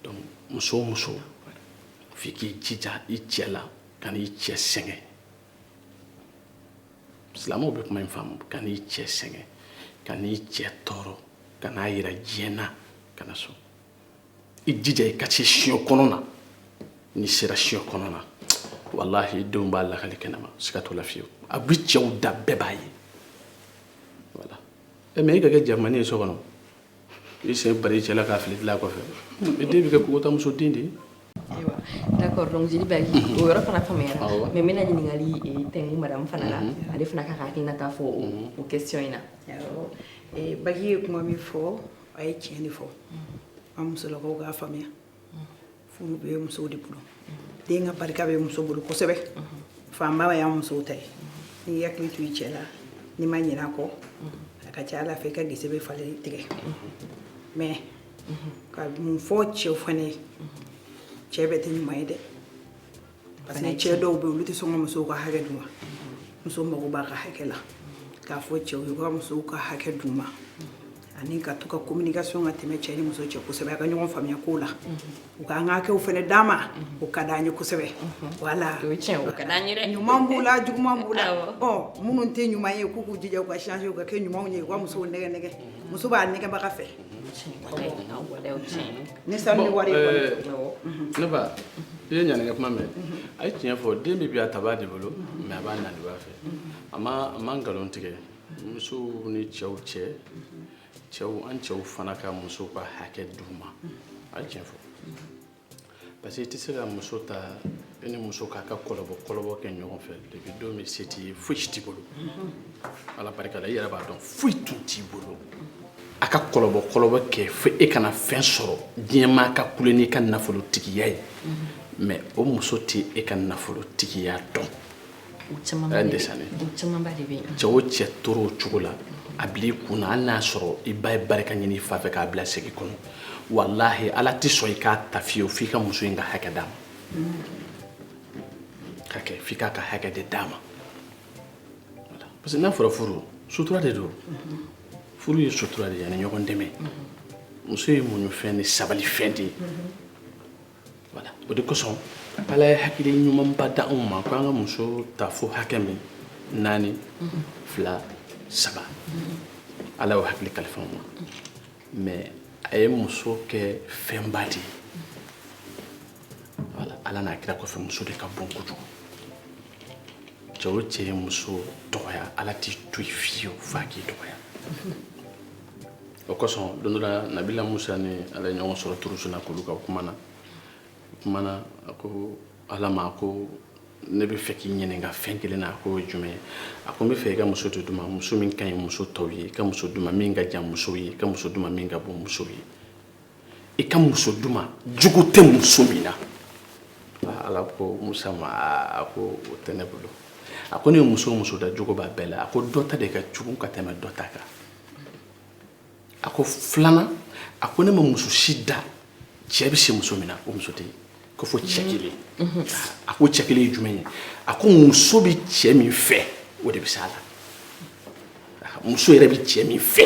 donc muso o muso f'i k'i jija i cɛ la kan'i cɛ sɛgɛn silamɛw bɛ kuma in faamu kan'i cɛ sɛgɛn kan'i cɛ tɔɔrɔ kan'a yira diɲɛ na kana sɔn i jija i ka se siyɔ kɔnɔ na n'i sera siyɔ kɔnɔ na walahi i denw b'a lakali kɛnɛma siga t'o la fiyewu a bi cɛw da bɛɛ b'a ye voilà ɛ mais i ka kɛ jamani ye so kɔnɔ i sen bari i cɛ la k'a fili dilan kɔfɛ i den bɛ kɛ kogotamuso den de ye ayiwa d'accord donc jeli bagi o yɔrɔ fana faamuyara Awɔ. mais n bɛna ɲininkali eh, tɛngu madame fana la ale fana ka ka hakilinata fɔ o- o question in na Awɔ. Eh, bagi ye kuma min fɔ a ye tiɲɛ de fɔ an musolakaw k'a faamuya furu bɛ musow de bolo den ka barika bɛ muso bolo kosɛbɛ fanba y'an musow ta ye n'i hakili to i cɛ la n'i ma ɲinɛ a kɔ a ka ca ala fɛ i ka gese bɛ falen tigɛ mais ka mun fɔ cɛw fana ye cɛ bɛɛ tɛ ɲuman ye dɛ parce que cɛ dɔw bɛ olu tɛ sɔn ka musow ka hakɛ d'u ma muso mago b'a ka hakɛ la k'a fɔ cɛw ye ka musow ka hakɛ d'u ma ani k'a to ka communication ka tɛmɛ cɛ ni muso cɛ kosɛbɛ a ka ɲɔgɔn faamuya ko la u ka an ka hakɛw fana d'an ma o ka d'an ye kosɛbɛ voilà o ka d'an ye dɛ ɲuman b'u la juguman b'u la ɔ minnu tɛ ɲuman ye k'u k'u jija u ka changer u ka kɛ ɲumanw ye u ka musow nɛgɛ nɛgɛ muso b'a nɛgɛbaga fɛ ni sanu ni wari ne ba i ye ɲaninkɛ kuma mɛn a ye tiɲɛ fɔ den bɛ bi a tabaa de bolo mais a b'a naanibaa fɛ a ma a ma nkalon tigɛ musow ni cɛw cɛ cɛw an cɛw fana ka musow ka hakɛ d'u ma a ye tiɲɛ fɔ parce que i tɛ se ka muso ta i ni muso k'a ka kɔlɔbɔ kɔlɔbɔ kɛ ɲɔgɔn fɛ depuis don min se t'i ye foyi si t'i bolo ala barika la i yɛrɛ b'a dɔn foyi tun t'i bolo a ka kɔlɔbɔ kɔlɔbɔ kɛ fo e ka na fɛn sɔrɔ diɲɛmaa ka kule n'i ka nafolotigiya ye mais o muso tɛ e ka nafolotigiya dɔn cɛ o cɛ tora o cogo la a bila i kun na hali n'a y'a sɔrɔ i ba ye barika ɲini i fa fɛ k'a bila segi kɔnɔ walahi ala tɛ sɔn i k'a ta fiyewu f'i ka muso in ka hakɛ d'a ma ka kɛ f'i k'a ka hakɛ de d'a ma parce que n'a fɔra furu sutura de don furu ye sutura de ye ani ɲɔgɔn dɛmɛ muso ye muɲufɛn ni sabalifɛn de ye Voilà o de kosɔn Ala ye hakili ɲumanba di anw ma ko an ka muso ta fo hakɛ min naani fila saba Ala y'o hakili kalifa an ma mais a ye muso kɛ fɛnba de ye voilà Ala n'a kira kɔfɛ muso de ka bon kojugu cɛ o cɛ ye muso dɔgɔya Ala t'i to yen fiyewu f'a k'i dɔgɔya. o kosɔn don dɔ la nabila musa ni ala ye ɲɔgɔn sɔrɔ turusina kulu kan u kumana kumana a ko ala ma ko ne bɛ fɛ k'i ɲininka fɛn kelen na a ko jumɛn ye a ko n bɛ fɛ i ka muso dɔ di n ma muso min ka ɲi muso tɔw ye i ka muso di n ma min ka jan musow ye i ka muso di n ma min ka bon musow ye i ka muso di n ma jugu tɛ muso min na ah, ala ko musa ma a ko o tɛ ne bolo a ko ne ye muso o muso da jugu b'a bɛɛ la a ko dɔ ta de ka jugu ka tɛmɛ dɔ ta kan a ko filanan a ko ne ma muso si da cɛ bɛ se muso min na o muso tɛ yen ko fo cɛ kelen a ko cɛ kelen ye jumɛn ye a ko muso bɛ cɛ min fɛ o de bɛ s'a la muso yɛrɛ bɛ cɛ min fɛ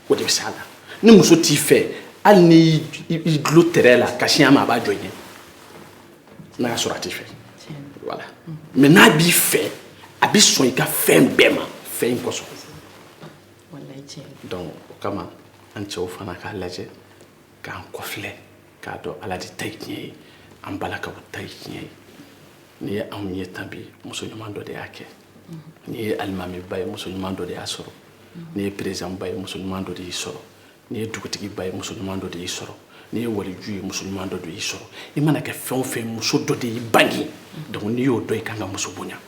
o de bɛ s'a la ni muso t'i fɛ hali ni i dulon tɛrɛn la ka sin a ma a b'a jɔ i ɲɛ n'a y'a sɔrɔ a t'i fɛ voilà mais n'a b'i fɛ a bɛ sɔn i ka fɛn bɛɛ ma fɛn in kosɔn donc o kama an cɛw fana k'a lajɛ k'an kɔfilɛ k'a dɔn ala de ta ye tiɲɛ ye an balakaw ta ye tiɲɛ ye n'i ye anw ye tan bi muso ɲuman dɔ de y'a kɛ n'i ye alimamiba ye muso ɲuman dɔ de y'a sɔrɔ n'i ye perezidanba ye muso ɲuman dɔ de y'i sɔrɔ n'i ye dugutigiba ye muso ɲuman dɔ de y'i sɔrɔ n'i ye waliju ye muso ɲuman dɔ de y'i sɔrɔ i mana kɛ fɛn o fɛn muso dɔ de y'i bange donc n'i y'o dɔn i kan ka muso bonya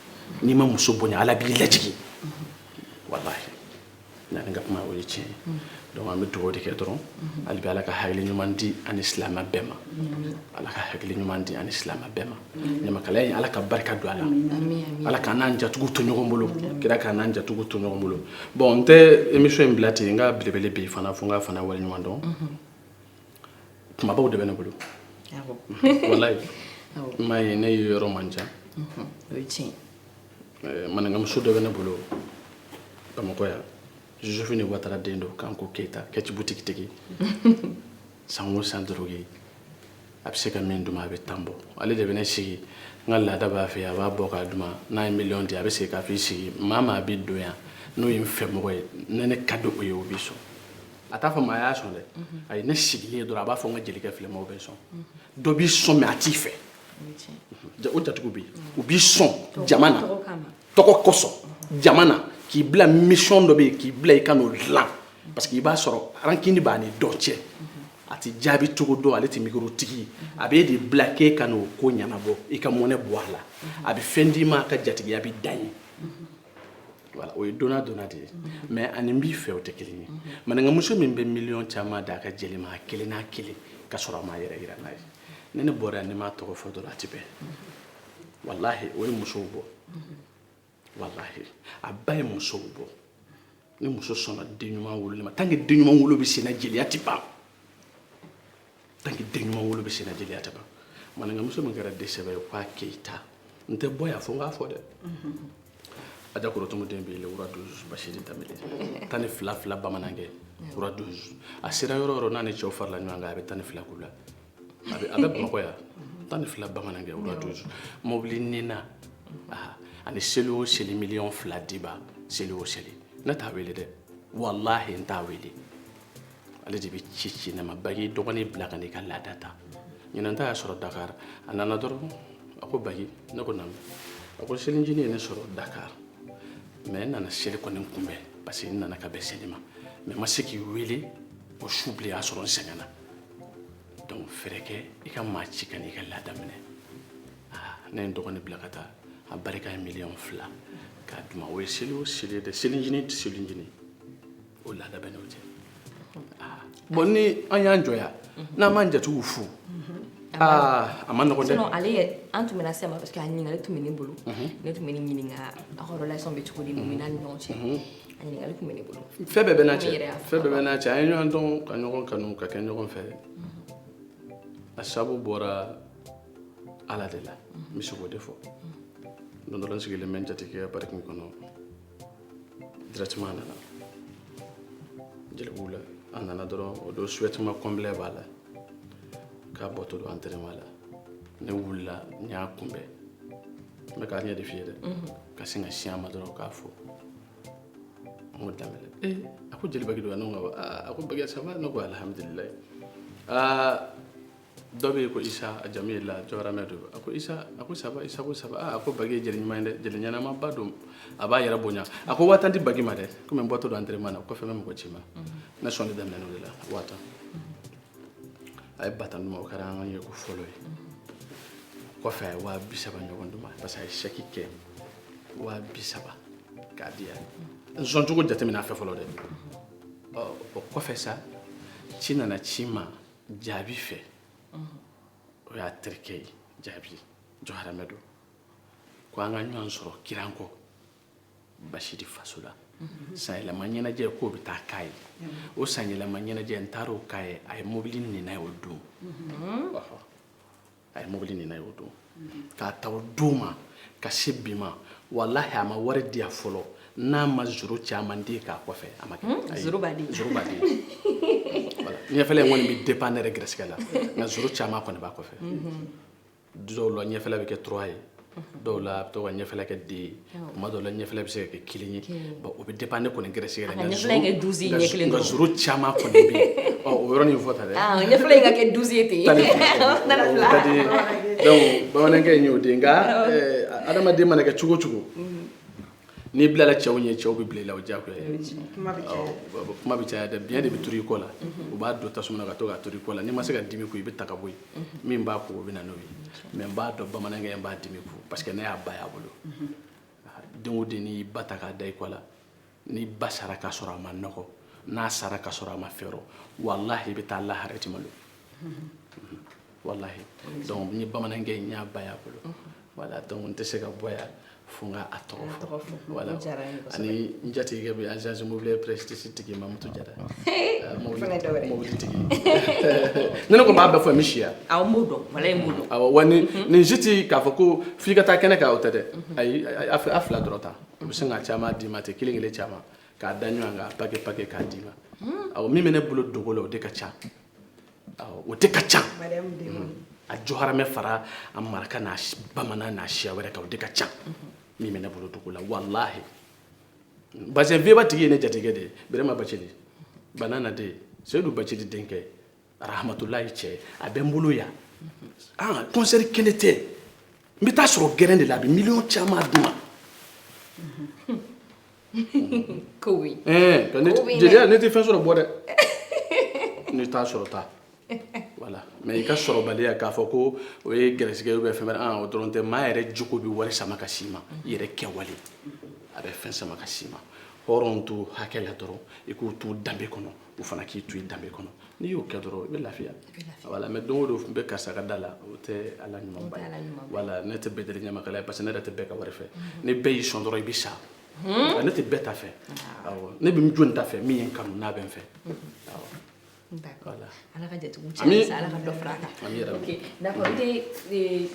n'i ma muso bonya ala b'i lajigin walahi N'an ka kuma o ye tiɲɛ ye donc an bɛ dugawu de kɛ dɔrɔn hali bi Ala ka hakili ɲuman di an ni silamɛ bɛɛ ma Ala ka hakili ɲuman di an ni silamɛ bɛɛ ma ɲamakalaya in Ala ka barika don a la Ala k'an n'an jatigiw to ɲɔgɔn bolo kira k'an n'an jatigiw to ɲɔgɔn bolo bon n tɛ émission in bila ten n ka belebele bɛ yen fana fo n k'a fana waleɲuman dɔn kumabaw de bɛ ne bolo walayi n m'a ye ne ye yɔrɔ man ca o ye tiɲɛ eh, maninkamuso dɔ bɛ ne bolo bamakɔ yan josephine watara den don kanko keyita kɛci butigitigi san o san doloki a bɛ se ka min di n ma a bɛ tan bɔ ale de bɛ ne sigi n ka laada b'a fɛ a b'a bɔ k'a di n ma n'a ye miliyɔn di a bɛ segin k'a f'i sigi maa maa bɛ don yan n'o ye n fɛ mɔgɔ ye ne ne ka di o ye o b'i sɔn a t'a fɔ maa y'a sɔn dɛ a ye ne sigilen ye dɔrɔn a b'a fɔ n ka jelikɛ filɛ maaw bɛ sɔn dɔ b'i sɔn mais a t'i fɛ Ja- o jatigiw bɛ yen u b'i sɔn jama na tɔgɔ kosɔn jama na k'i bila mission dɔ bɛ yen k'i bila i ka n'o dilan parce que i b'a sɔrɔ rancune b'a ni dɔ cɛ a tɛ jaabi cogo dɔn ale tɛ mikoro tigi ye a b'e de bila k'e ka n'o ko ɲɛnabɔ i ka mɔnɛ bɔ a la a bɛ fɛn d'i ma a ka jatigiya bɛ dan yen voilà o ye donnant donnant de ye mais ani n b'i fɛ o tɛ kelen ye maninkamuso min bɛ miliyɔn caman d'a ka jeli ma a kelen n'a kelen ka sɔrɔ a m'a yɛrɛ yira n'a ye ni ne bɔra yan ni n m'a tɔgɔ fɔ dɔrɔn a tɛ bɛn walahi o ye musow bɔ walahi a ba ye musow bɔ ni muso sɔnna den ɲuman wololi ma tant que den ɲuman wolo bɛ senna jeliya tɛ ban tant que den ɲuman wolo bɛ senna jeliya tɛ ban maninkamuso min kɛra den sɛbɛ ye k'a keyita n tɛ bɔ yan fo n k'a fɔ dɛ aja korotumu den bɛ yen le roi douze basidi danbele tan ni fila fila bamanankɛ roi douze a sera yɔrɔ o yɔrɔ n'a ni cɛw farala ɲɔgɔn kan a bɛ tan ni fila k'u la a bɛ a bɛ bamakɔ yan tan ni fila bamanankɛ o ka to mobili ni n na aa ani seli o seli miliyɔn fila diba seli o seli ne t'a wele dɛ walahi n t'a wele ale de bɛ ci ci ne ma bagi dɔgɔnin bila ka n'i ka laada ta ɲinan ta y'a sɔrɔ dakar a nana dɔrɔn a ko bagi ne ko naamu a ko selicinin ye ne sɔrɔ dakar mais n nana seli kɔni kunbɛn parce que n nana ka bɛn seli ma mais n ma se k'i wele o su bilen y'a sɔrɔ n sɛgɛnna donc fɛɛrɛ kɛ i ka maa ci ka n'i ka laada minɛ aa ne ye n dɔgɔnin bila ka taa a barika ye miliyɔn fila k'a di n ma o ye seli o seli ye dɛ selicinin tɛ selicinin o laada bɛ n'o cɛ aa bon ni an y'an jɔ yan n'an m'an jatigiw fo aa a man nɔgɔn dɛ sinon ale yɛrɛ an tun bɛna se ma parce que a ɲininkali tun bɛ ne bolo ne tun bɛn'i ɲininka aw ka relation bɛ cogo di mumina ni ɲɔgɔn cɛ ɲininkali tun bɛ ne bolo fɛn bɛɛ bɛ n'a cɛ N yɛrɛ y'a fɛn bɛɛ bɛ n'a cɛ an ye ɲɔgɔn dɔn ka ɲɔgɔn kanu ka kɛ ɲɔgɔn fɛ a sabu bɔra ala de la n bɛ se k'o de fɔ don dɔ la n sigilen bɛ n jatigikɛ ka parking kɔnɔ directement a nana jelibugu la a nana dɔrɔn o don survêtement complet b'a la k'a bɔtɔ don entraînement la ne wulila n y'a kunbɛn n bɛ k'a ɲɛ de f'i ye dɛ ka sin ka se a ma dɔrɔn k'a fo n ko danbɛlɛ ee a ko jeli baki don wa ne ko a ko baki ça va ne ko alhamdulilayi aa dɔ bɛ yen ko isa a jamu ye la jɔgɔramɛ don a ko isa a ko ça va isa ko ça va aa a ko baki ye jeli ɲuman ye dɛ jeli ɲɛnamaba don a b'a yɛrɛ bonya a ko waa tan di baki ma dɛ komi n bɔtɔ don entraînement na o kɔfɛ n bɛ mɔgɔ ci ma ne sɔnni daminɛn'o de la waa tan a ye ba tan di n ma o kɛra an ka ɲɛko fɔlɔ ye kɔfɛ a ye waa bi saba ɲɔgɔn di n ma parce que a ye chèque kɛ waa bi saba k'a di yan n sɔn cogo jateminɛ a fɛ fɔlɔ dɛ ɔ o kɔfɛ sa ci nana ci ma jaabi fɛ o y'a terikɛ ye jaabi jɔgɔramɛ don ko an ka ɲɔgɔn sɔrɔ kirango basidi faso la sanyɛlɛma ɲɛnajɛ k'o bɛ taa kɛ yen o sanyɛlɛma ɲɛnajɛ n taara o kɛ yen a ye mobili ni n na yen o don ɔhɔ a ye mobili ni n na yen o don k'a ta o don ma ka se bi ma walahi a ma wari di yan fɔlɔ n'a ma zoro caman di k'a kɔfɛ a ma kɛ ayi zoro baden zoro baden voilà ɲɛfɛla in kɔni bɛ dépend ne yɛrɛ gɛrɛsɛgɛ la nka zoro caman kɔni b'a kɔfɛ dɔw la ɲɛfɛla bɛ kɛ trois ye dɔw la a bɛ to ka ɲɛfɛla kɛ deux ye tuma dɔw la ɲɛfɛla bɛ se ka kɛ kelen ye bon o bɛ dépend ne kɔni gɛrɛsɛgɛ la nka zoro caman kɔni bɛ yen ɔ o yɔrɔnin fɔ tan dɛ ɲɛfɛla in ka kɛ douze ye ten o ka di donc bamanankɛ in y'o de ye nka adamaden mana kɛ cogo o cogo n'i bilala cɛw ɲɛ cɛw bɛ bila i la o diyagoya ye kuma bɛ caya awɔ, bon, kuma bɛ caya dɛ biɲɛ de bɛ turu i kɔ la u b'a don tasuma na ka to k'a turu i kɔ la n'i ma se ka dimi kun i bɛ ta ka bɔ yen min b'a kun o bɛ na n'o ye mais n b'a dɔn bamanankɛ in n b'a dimi kun parce que ne y'a ba y'a bolo aa den o den n'i y'i ba ta k'a da i kɔ la n'i ba sara k'a sɔrɔ a ma nɔgɔ n'a sara k'a sɔrɔ a ma fɛrɛ walahi i bɛ taa lahara i tɛ malo voilà donc n ye bamanankɛ in y'a ba y'a bolo voilà donc n tɛ se ka bɔ yan fo n ka a tɔgɔ fɔ voilà ani n jatigikɛ bɛ agence immobilière prestige tigi mamutu jara mobili tigi ni ne ko n b'a bɛɛ fɔ n bɛ si yan awɔ n b'o dɔn walahi n b'o dɔn awɔ wa nin nin si tɛ k'a fɔ ko f'i ka taa kɛnɛ kan o tɛ dɛ ayi a fila dɔrɔn ta u bɛ sin ka caman d'i ma ten kelen kelen caman k'a da ɲɔgɔn kan paquet paquet k'a d'i ma awɔ min bɛ ne bolo dogo la o de ka ca o de ka ca a jɔharamɛ fara a maraka n'a bamanan n'a siya wɛrɛ kan o de ka ca min bɛ ne bolo dugu la walahi parce que veba tigi ye ne jatigikɛ de ye birama bacili banana de seyidu bacili denkɛ arahamatulayi cɛ a bɛ n bolo yan ah kɔnsɛri kɛlen tɛ n bɛ taa sɔrɔ gɛrɛn de la a bɛ miliyɔn caman d'u ma ko oui eh ka ne Ko oui, jeliya ne tɛ fɛn sɔrɔ bɔ dɛ ne t'a sɔrɔ ta voilà mais i ka sɔrɔbaliya k'a fɔ ko o ye gɛrɛsigɛ ye ou bien fɛn wɛrɛ an o dɔrɔn tɛ maa yɛrɛ jogo bɛ wari sama ka s'i ma i yɛrɛ kɛwale a bɛ fɛn sama ka s'i ma hɔrɔn to hakɛ la dɔrɔn i k'o to danbe kɔnɔ o fana k'i to i danbe kɔnɔ n'i y'o kɛ dɔrɔn i bɛ lafiya voilà mais don o don n bɛ karisa ka da la o tɛ a la ɲumanba ye voilà ne tɛ bɛɛ deli ɲamakala parce que ne yɛrɛ tɛ bɛɛ ka wari fɛ mhm. ni bɛɛ y'i sɔn dɔrɔn i bɛ sa mhm. ne tɛ bɛɛ ta fɛ ah. ne bɛ jɔn ta fɛ min ye n kanu n'a bɛ n fɛ mhm. ala ka jatigiw cɛ ala ka dɔ fara a kan d'accord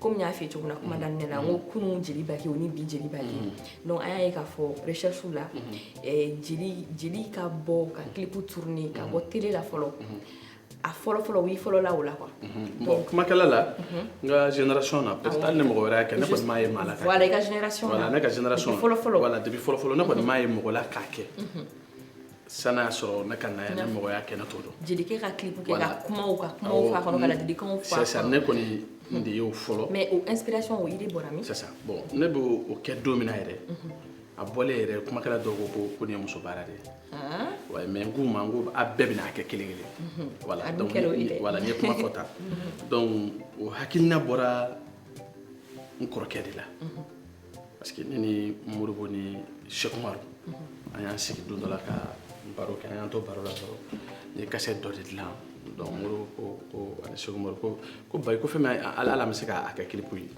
kɔmi n y'a f'i ye cogo min na kuma daminɛ na n ko kunun jeli baki o ni bi jeli baki donc an y'a ye k'a fɔ recherche la jeli ka bɔ ka kilipu tourner ka bɔ tele la fɔlɔ a fɔlɔfɔlɔ i fɔlɔla o la quoi bon kumakɛla la n ka génération na peut-être hali ni mɔgɔ wɛrɛ y'a kɛ ne kɔni m'a ye maa la voilà i ka génération na voilà ne ka génération fɔlɔfɔlɔ voilà depuis fɔlɔfɔlɔ ne kɔni m'a ye mɔgɔ la k'a kɛ sani a sɔrɔ ne ka na yan ni mɔgɔ y'a kɛ ne t'o dɔn jelikɛ ka clip kɛ ka kumaw ka kumaw fɔ a kɔnɔ ka ladilikanw fɔ a kɔnɔ c'est ça ne kɔni n de y'o fɔlɔ mais o inspiration o idée bɔra min sisan bon ne bɛ o kɛ don min na yɛrɛ a bɔlen yɛrɛ kumakɛla dɔw ko ko ko nin ye muso baara de ye ouais mais n k'u ma n ko a bɛɛ bɛna a kɛ kelen kelen voilà donc voilà n ye kuma fɔ tan donc o hakilina bɔra n kɔrɔkɛ de la parce que ne ni moribo ni sekumaru an y'an sigi don dɔ la ka baro kɛ an y'an to baro la dɔrɔn n ye kasɛti dɔ de dilan donc moribo ko ko ani sekumaru ko ko bayi ko fɛn min ala an bɛ se k'a kɛ kilipu ye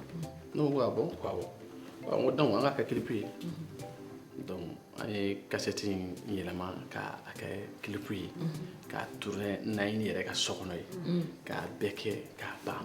ne ko ah bon ko awɔ n ko donc an k'a kɛ kilipu ye donc an ye kasɛti in yɛlɛma k'a kɛ kilipu ye k'a tourner naɲini yɛrɛ ka so kɔnɔ ye k'a bɛɛ kɛ k'a ban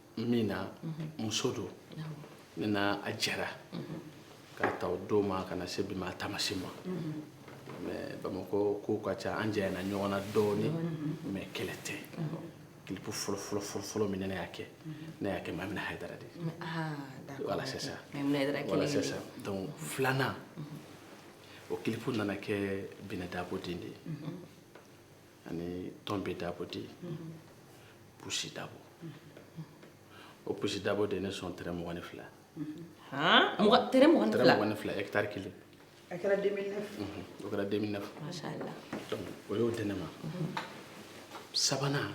min na muso don ne n'a a jɛra k'a ta o don ma ka na se bi ma a taa maa si ma mais bamakɔ kow ka ca an janyana ɲɔgɔn na dɔɔnin mais kɛlɛ tɛ kilipu fɔlɔfɔlɔfɔlɔ min ne ne y'a kɛ ne y'a kɛ mamina hayidara de voilà c'est ça voilà c'est ça donc filanan o kilipu nana kɛ binɛ dabo den de ye ani tɔnbi dabo dit pusi dabo o pusi dabo de ye ne sɔn tɛrɛ mugan ni fila tɛrɛ mugan ni fila ɛkitari kelen o kɛra 2009 o y'o di ne ma sabanan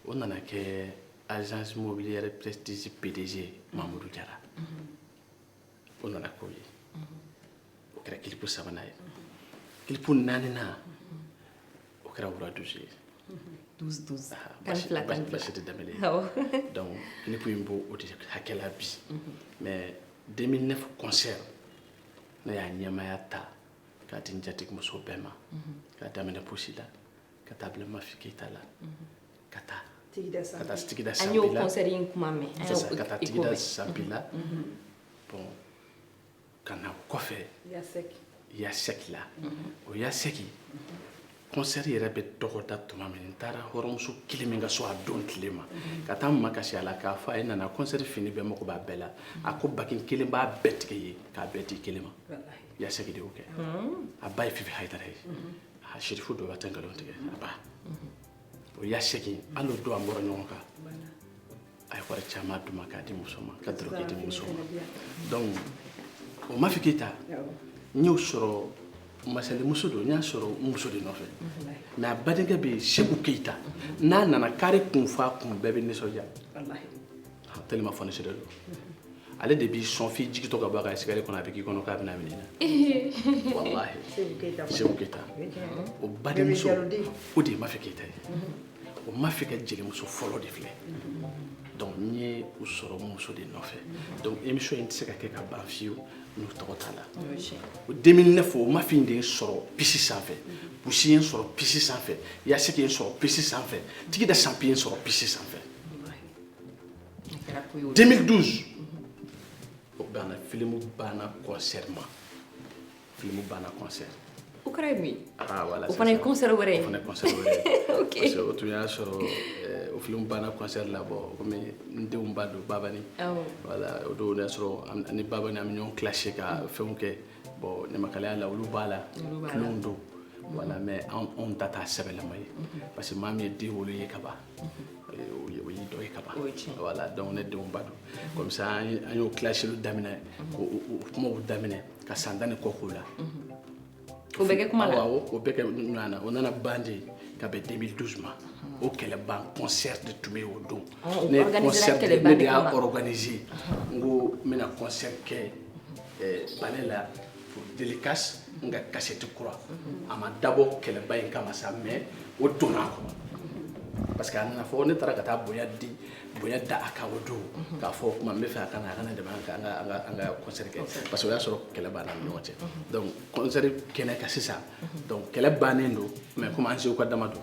o nana kɛ agence immobilière prestige pdg mamudu jara o nana k'o ye o kɛra kilipu sabanan ye kilipu naaninan o kɛra wura douze ye douze douze ah, tan ni fila tan ni fila basi tɛ danbele ye donc kilipu in b'o o de hakɛ la bi mais 2009 concert ne y'a ɲɛmaya ta k'a di n jatigi muso bɛɛ ma k'a daminɛ pusi la ka taa bila mafi keyita la ka taa tigida sanpi la, ka taa tigida sanpi la, an y'o concert in kuma mɛn, an y'o écho mɛn, ka taa tigida sanpi la, unhun, bon ka na kɔfɛ yasɛki, yasɛki la, o yasɛki concert yɛrɛ bɛ dɔgɔda tuma min n taara hɔrɔnmuso kelen min ka so a don tile ma ka taa n makasi a la k'a fɔ a ye nana concert fini bɛɛ mago b'a bɛɛ la a ko bakin kelen b'a bɛɛ tigɛ yen k'a bɛɛ di kelen ma yasɛki de y'o kɛ a ba ye fifi hayidara ye a sirifu dɔ b'a tɛ nkalon tigɛ a ba o yasɛki hali o don an bɔra ɲɔgɔn kan a ye wari caman d'u ma k'a di muso ma ka dɔrɔkɛ di muso ma donc o mafi keyita n y'o sɔrɔ masalimuso don n y'a sɔrɔ n muso de nɔfɛ mais a badenkɛ bɛ yen seku keyita n'a nana kari kun fa kun bɛɛ bɛ nisɔndiya tellement fonisire don ale de b'i sɔn f'i jigitɔ ka bɔ a ka escalier kɔnɔ a bɛ k'i kɔnɔ k'a bɛna minɛ na walahi seku keyita o badenmuso o de ye mafi keyita ye o mafi ka jelimuso fɔlɔ de filɛ donc n ye u sɔrɔ muso de nɔfɛ donc émission in tɛ se ka kɛ ka ban fiyewu n'u tɔgɔ t'a la o 2009 o mafi in de ye sɔrɔ pisi sanfɛ pusi ye sɔrɔ pisi sanfɛ yasɛki ye sɔrɔ pisi sanfɛ tigida sanpi ye sɔrɔ pisi sanfɛ 2012 o banna filimu banna concert ma filimu banna concert o kɛra ye mun ye ah, voilà, o fana ye concert wɛrɛ ye o fana ye concert wɛrɛ ye ok parce que o tun y'a sɔrɔ eh, o filimu banna concert la bon komi n denw ba don babani awɔ voilà o don y'a sɔrɔ an- ani babani an bɛ ɲɔgɔn clasher ka fɛnw kɛ bon ɲamakalaya la olu b'a la Olu b'a la. tulonw don voilà mais anw anw ta t'a sɛbɛlama ye parce que maa min ye den wolo ye ka ban o y'i dɔ ye ka ban voilà donc ne denw ba don comme ça an y'o kilasiliw daminɛ k'o kumaw daminɛ ka san tan ni kɔ k'o la o bɛ kɛ kuma la o bɛ kɛ ɲɔgɔn na o nana ban de ka bɛn 2012 ma o kɛlɛban concert de tun bɛ yen o don ne concert ne de y'a organiser n ko n bɛna concert kɛ palais la pour dédicace n ka kasɛti kura a ma dabɔ kɛlɛba in kama sa mais o donna a kɔnɔ parce que a nana fɔ ne taara ka taa bonya di bonya da a kan o don k'a fɔ o tuma n bɛ fɛ a ka na a ka na dɛmɛ an ka an ka an ka an ka concert kɛ parce que o y'a sɔrɔ kɛlɛ banna an ni ɲɔgɔn cɛ donc concert kɛnɛ kan sisan donc kɛlɛ bannen don mais komi an seko ka dama don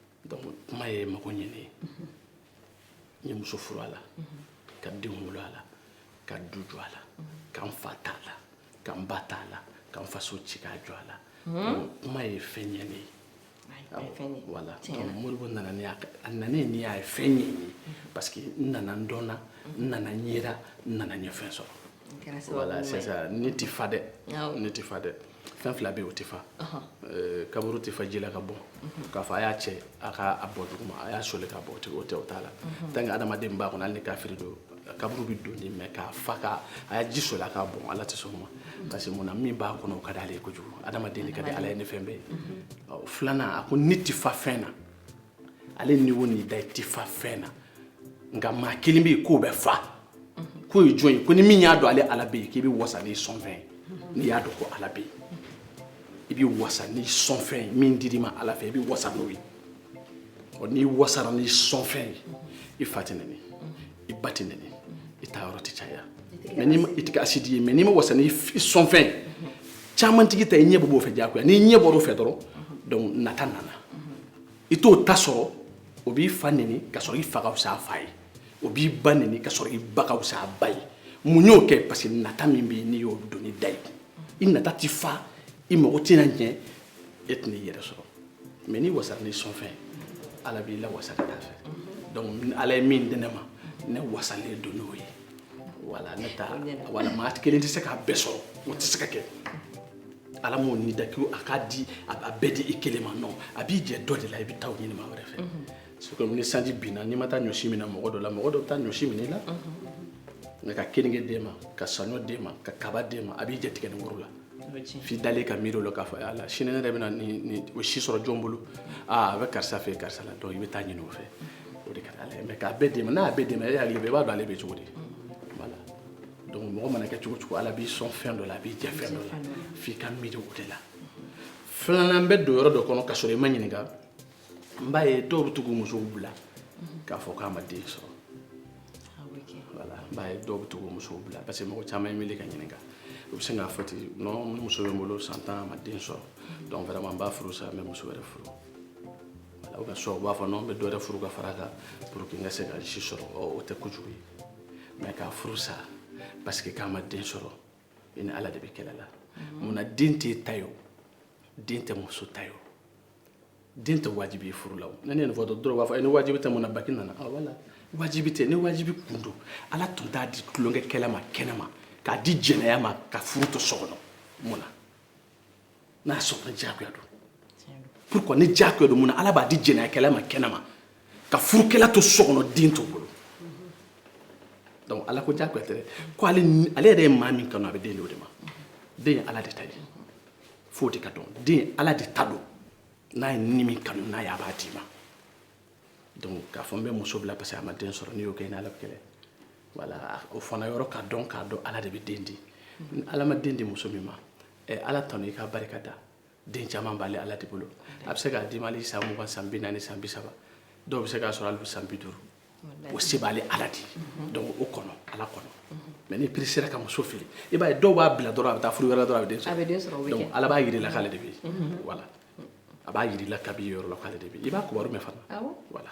donc kuma ye mago ɲɛ ne ye n ye muso furu a la ka denw wolo a la ka du jɔ a la ka n fa t'a la ka n ba t'a la ka n faso ci k'a jɔ a la donc kuma ye fɛn ɲɛ ne ye voilà donc modibo nana ni a a nana ye ni y'a ye fɛn ɲɛ n ye parce que n nana n dɔnna n nana n yera n nana n ye fɛn sɔrɔ voilà sisan ni tɛ fa dɛ ni tɛ fa dɛ fɛn fila bɛ yen o tɛ fa eh, kaburu tɛ fa ji la ka bɔn mhm. k'a fɔ a y'a cɛ a k'a bɔn duguma a y'a soli k'a bɔn o tɛ o t'a la mhm. tant que adamaden b'a kɔnɔ hali ni kafiri don kaburu bɛ don dɛ mais k'a fa ka a y'a ji soli a k'a bɔn ala tɛ sɔn o ma mhm. parce que mun na min b'a kɔnɔ o ka di ale ye kojugu adamaden de ka di ala ye ni fɛn bɛɛ ye filanan a ko ni tɛ fa fɛn na ale ni wo ni da i tɛ fa fɛn na nka maa kelen bɛ yen k'o bɛ fa k'o ye jɔn ye ko ni min y'a dɔn ale ala bɛ yen k'i bɛ wasa n'i sɔn fɛn ye n'i y'a dɔn ko ala bɛ yen i bɛ wasa n'i sɔn fɛn ye min dir'i ma ala fɛ i bɛ wasa n'o ye ɔ n'i wasara n'i sɔn fɛn ye i fa tɛ nɛni i ba tɛ nɛni i taa yɔrɔ tɛ caya mais n'i ma i tɛ kɛ asidi ye mais n'i ma wasa n'i f- i sɔn fɛn ye caman tigi ta i ɲɛ bɛ b'o fɛ diyagoya n'i ɲɛ bɔr'o fɛ dɔrɔn donc nata nana i t'o ta sɔrɔ o b'i fa neni ka sɔrɔ i fa ka fisa a fa ye o b'i ba neni ka sɔrɔ i ba ka fisa a ba ye mun y'o kɛ parce que nata min bɛ yen n'i y'o don ni da ye i nata t'i fa i mago tɛna ɲɛ e tɛna i yɛrɛ sɔrɔ mais n'i wasara n'i sɔnfɛn ala b'i lawasa ka taa a fɛ donc ala ye min di ne ma ne wasalen don n'o ye voilà ne ta voilà maa kelen tɛ se k'a bɛɛ sɔrɔ o tɛ se ka kɛ ala m'o ni da ko a k'a di a bɛɛ di i kelen ma non a b'i jɛ dɔ de la i bɛ taa o ɲini maa wɛrɛ fɛ c'est comme ni sanji binna n'i ma taa ɲɔsi minɛ mɔgɔ dɔ la mɔgɔ dɔ bɛ taa ɲɔsi minɛ i la nka ka keninge d'e ma ka saɲɔ d'e ma ka kaba d'e ma a b'i jɛ tigɛ ni woro la f'i dalen ka miiri o la k'a fɔ ala sini ne yɛrɛ bɛna nin ɲɔsi sɔrɔ jɔn bolo aa a bɛ karisa fɛ karisa la donc i bɛ taa ɲini o fɛ o de ka di ala ye mais k'a bɛɛ d'e ma n'a y'a bɛɛ d'e ma e hakili bɛ i b'a dɔn ale bɛ cogo di donc mɔgɔ mana kɛ cogo o cogo ala b'i sɔn fɛn dɔ la a b'i jɛ fɛn dɔ la f'i ka miiri o de la filanan bɛ don yɔrɔ dɔ kɔnɔ ka sɔrɔ i ma ɲininka n b'a ye dɔw bɛ to k'u musow bila k'a fɔ k'a ma den sɔrɔ voilà n b'a ye dɔw bɛ to k'u musow bila parce que mɔgɔ caman ye n wele ka n ɲininka u bɛ sin k'a fɔ ten non nin muso bɛ n bolo san tan a ma den sɔrɔ donc vraiment n b'a furu sa n bɛ muso wɛrɛ furu wala u ka sɔn u b'a fɔ non n bɛ dɔ wɛrɛ furu ka fara a kan pour que n ka se ka si sɔrɔ o tɛ kojugu ye mais ka furu sa parce que k'a ma den sɔrɔ i ni ala de bɛ kɛlɛ la mun na den t'i ta ye o den tɛ muso ta ye o den tɛ wajibi ye furu la o ne ni nin fɔ dɔrɔn u b'a fɔ e ni wajibi tɛ mun na baki nana a voilà wajibi tɛ ni wajibi kun don ala tun t'a di tulonkɛ kɛla ma kɛnɛ ma k'a di jɛnɛya ma ka furu to so kɔnɔ mun na n'a sɔrɔ ni diyagoya don pourquoi ni diyagoya don mun na ala b'a di jɛnɛyakɛla ma kɛnɛ ma ka furukɛla to so kɔnɔ den t'o bolo donc ala ko diyagoya tɛ dɛ ko ale ale yɛrɛ ye maa min kanu a bɛ den di o de ma den ye ala de ta ye f'o de ka dɔn den ye ala de ta don n'a ye ni min kanu n'a ye a b'a d'i ma donc k'a fɔ n bɛ muso bila parce que a ma den sɔrɔ n'i y'o kɛ i n'ala bɛ kɛlɛ voilà o fana yɔrɔ k'a dɔn k'a dɔn ala de bɛ den di ni ala ma den di muso min ma ala tanu i ka barika da den caman b'ale ala de bolo a bɛ se k'a d'i ma hali san mugan san bi naani san bi saba dɔw bɛ se k'a sɔrɔ hali san bi duuru o se b'ale ala de ye donc o kɔnɔ ala kɔnɔ mais n'i peresera ka muso fili i b'a ye dɔw b'a bila dɔrɔn a bɛ taa furu wɛrɛ la dɔrɔn a bɛ den sɔrɔ donc ala b'a jir'i la k'ale de bɛ yen voilà a b'a jir'i la kabini yen yɔrɔ la k'ale de bɛ yen i b'a kibaru mɛn fana voilà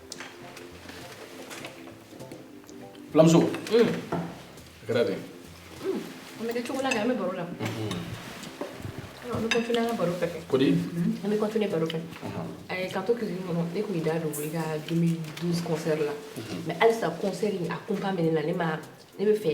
Fulamuso a kɛra dɛ an bɛ kɛ cogo la kɛ an bɛ baro la an bɛ continuer an ka baro fɛ kɛ kodi an bɛ continuer baro fɛ ɛɛ ka to cuisine kɔnɔ ne tun y'i da don i ka 2012 concert la mais halisa concert in a kunpa bɛ ne la ne ma ne bɛ fɛ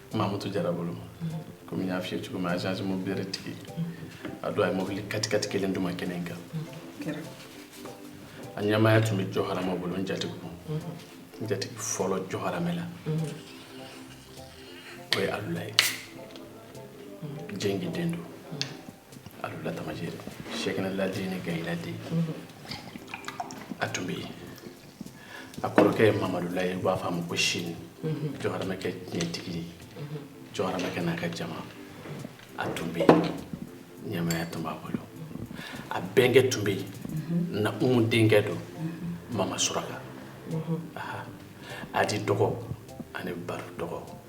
mamutu jara bolo komi n y'a f'i ye cogo min agence mobiliere tigi a don a ye mobili katikati kelen di n ma kɛnɛ in kan a ɲɛmaaya tun bɛ jɔharamɛ bolo n jatigi kun n jatigi fɔlɔ jɔharamɛ la o ye alu la ye jengi den don alu la tamajɛ sɛkina ladi ni gayi ladi a tun bɛ yen a kɔrɔkɛ ye mamadu la ye u b'a fɔ a ma ko sini jɔharamɛkɛ ɲɛtigi ye jɔharamɛkɛ n'a ka jama a tun bɛ yen ɲɛmaaya tun b'a bolo a bɛnkɛ tun bɛ yen na umu denkɛ don mama suraka adi dɔgɔ ani baru dɔgɔ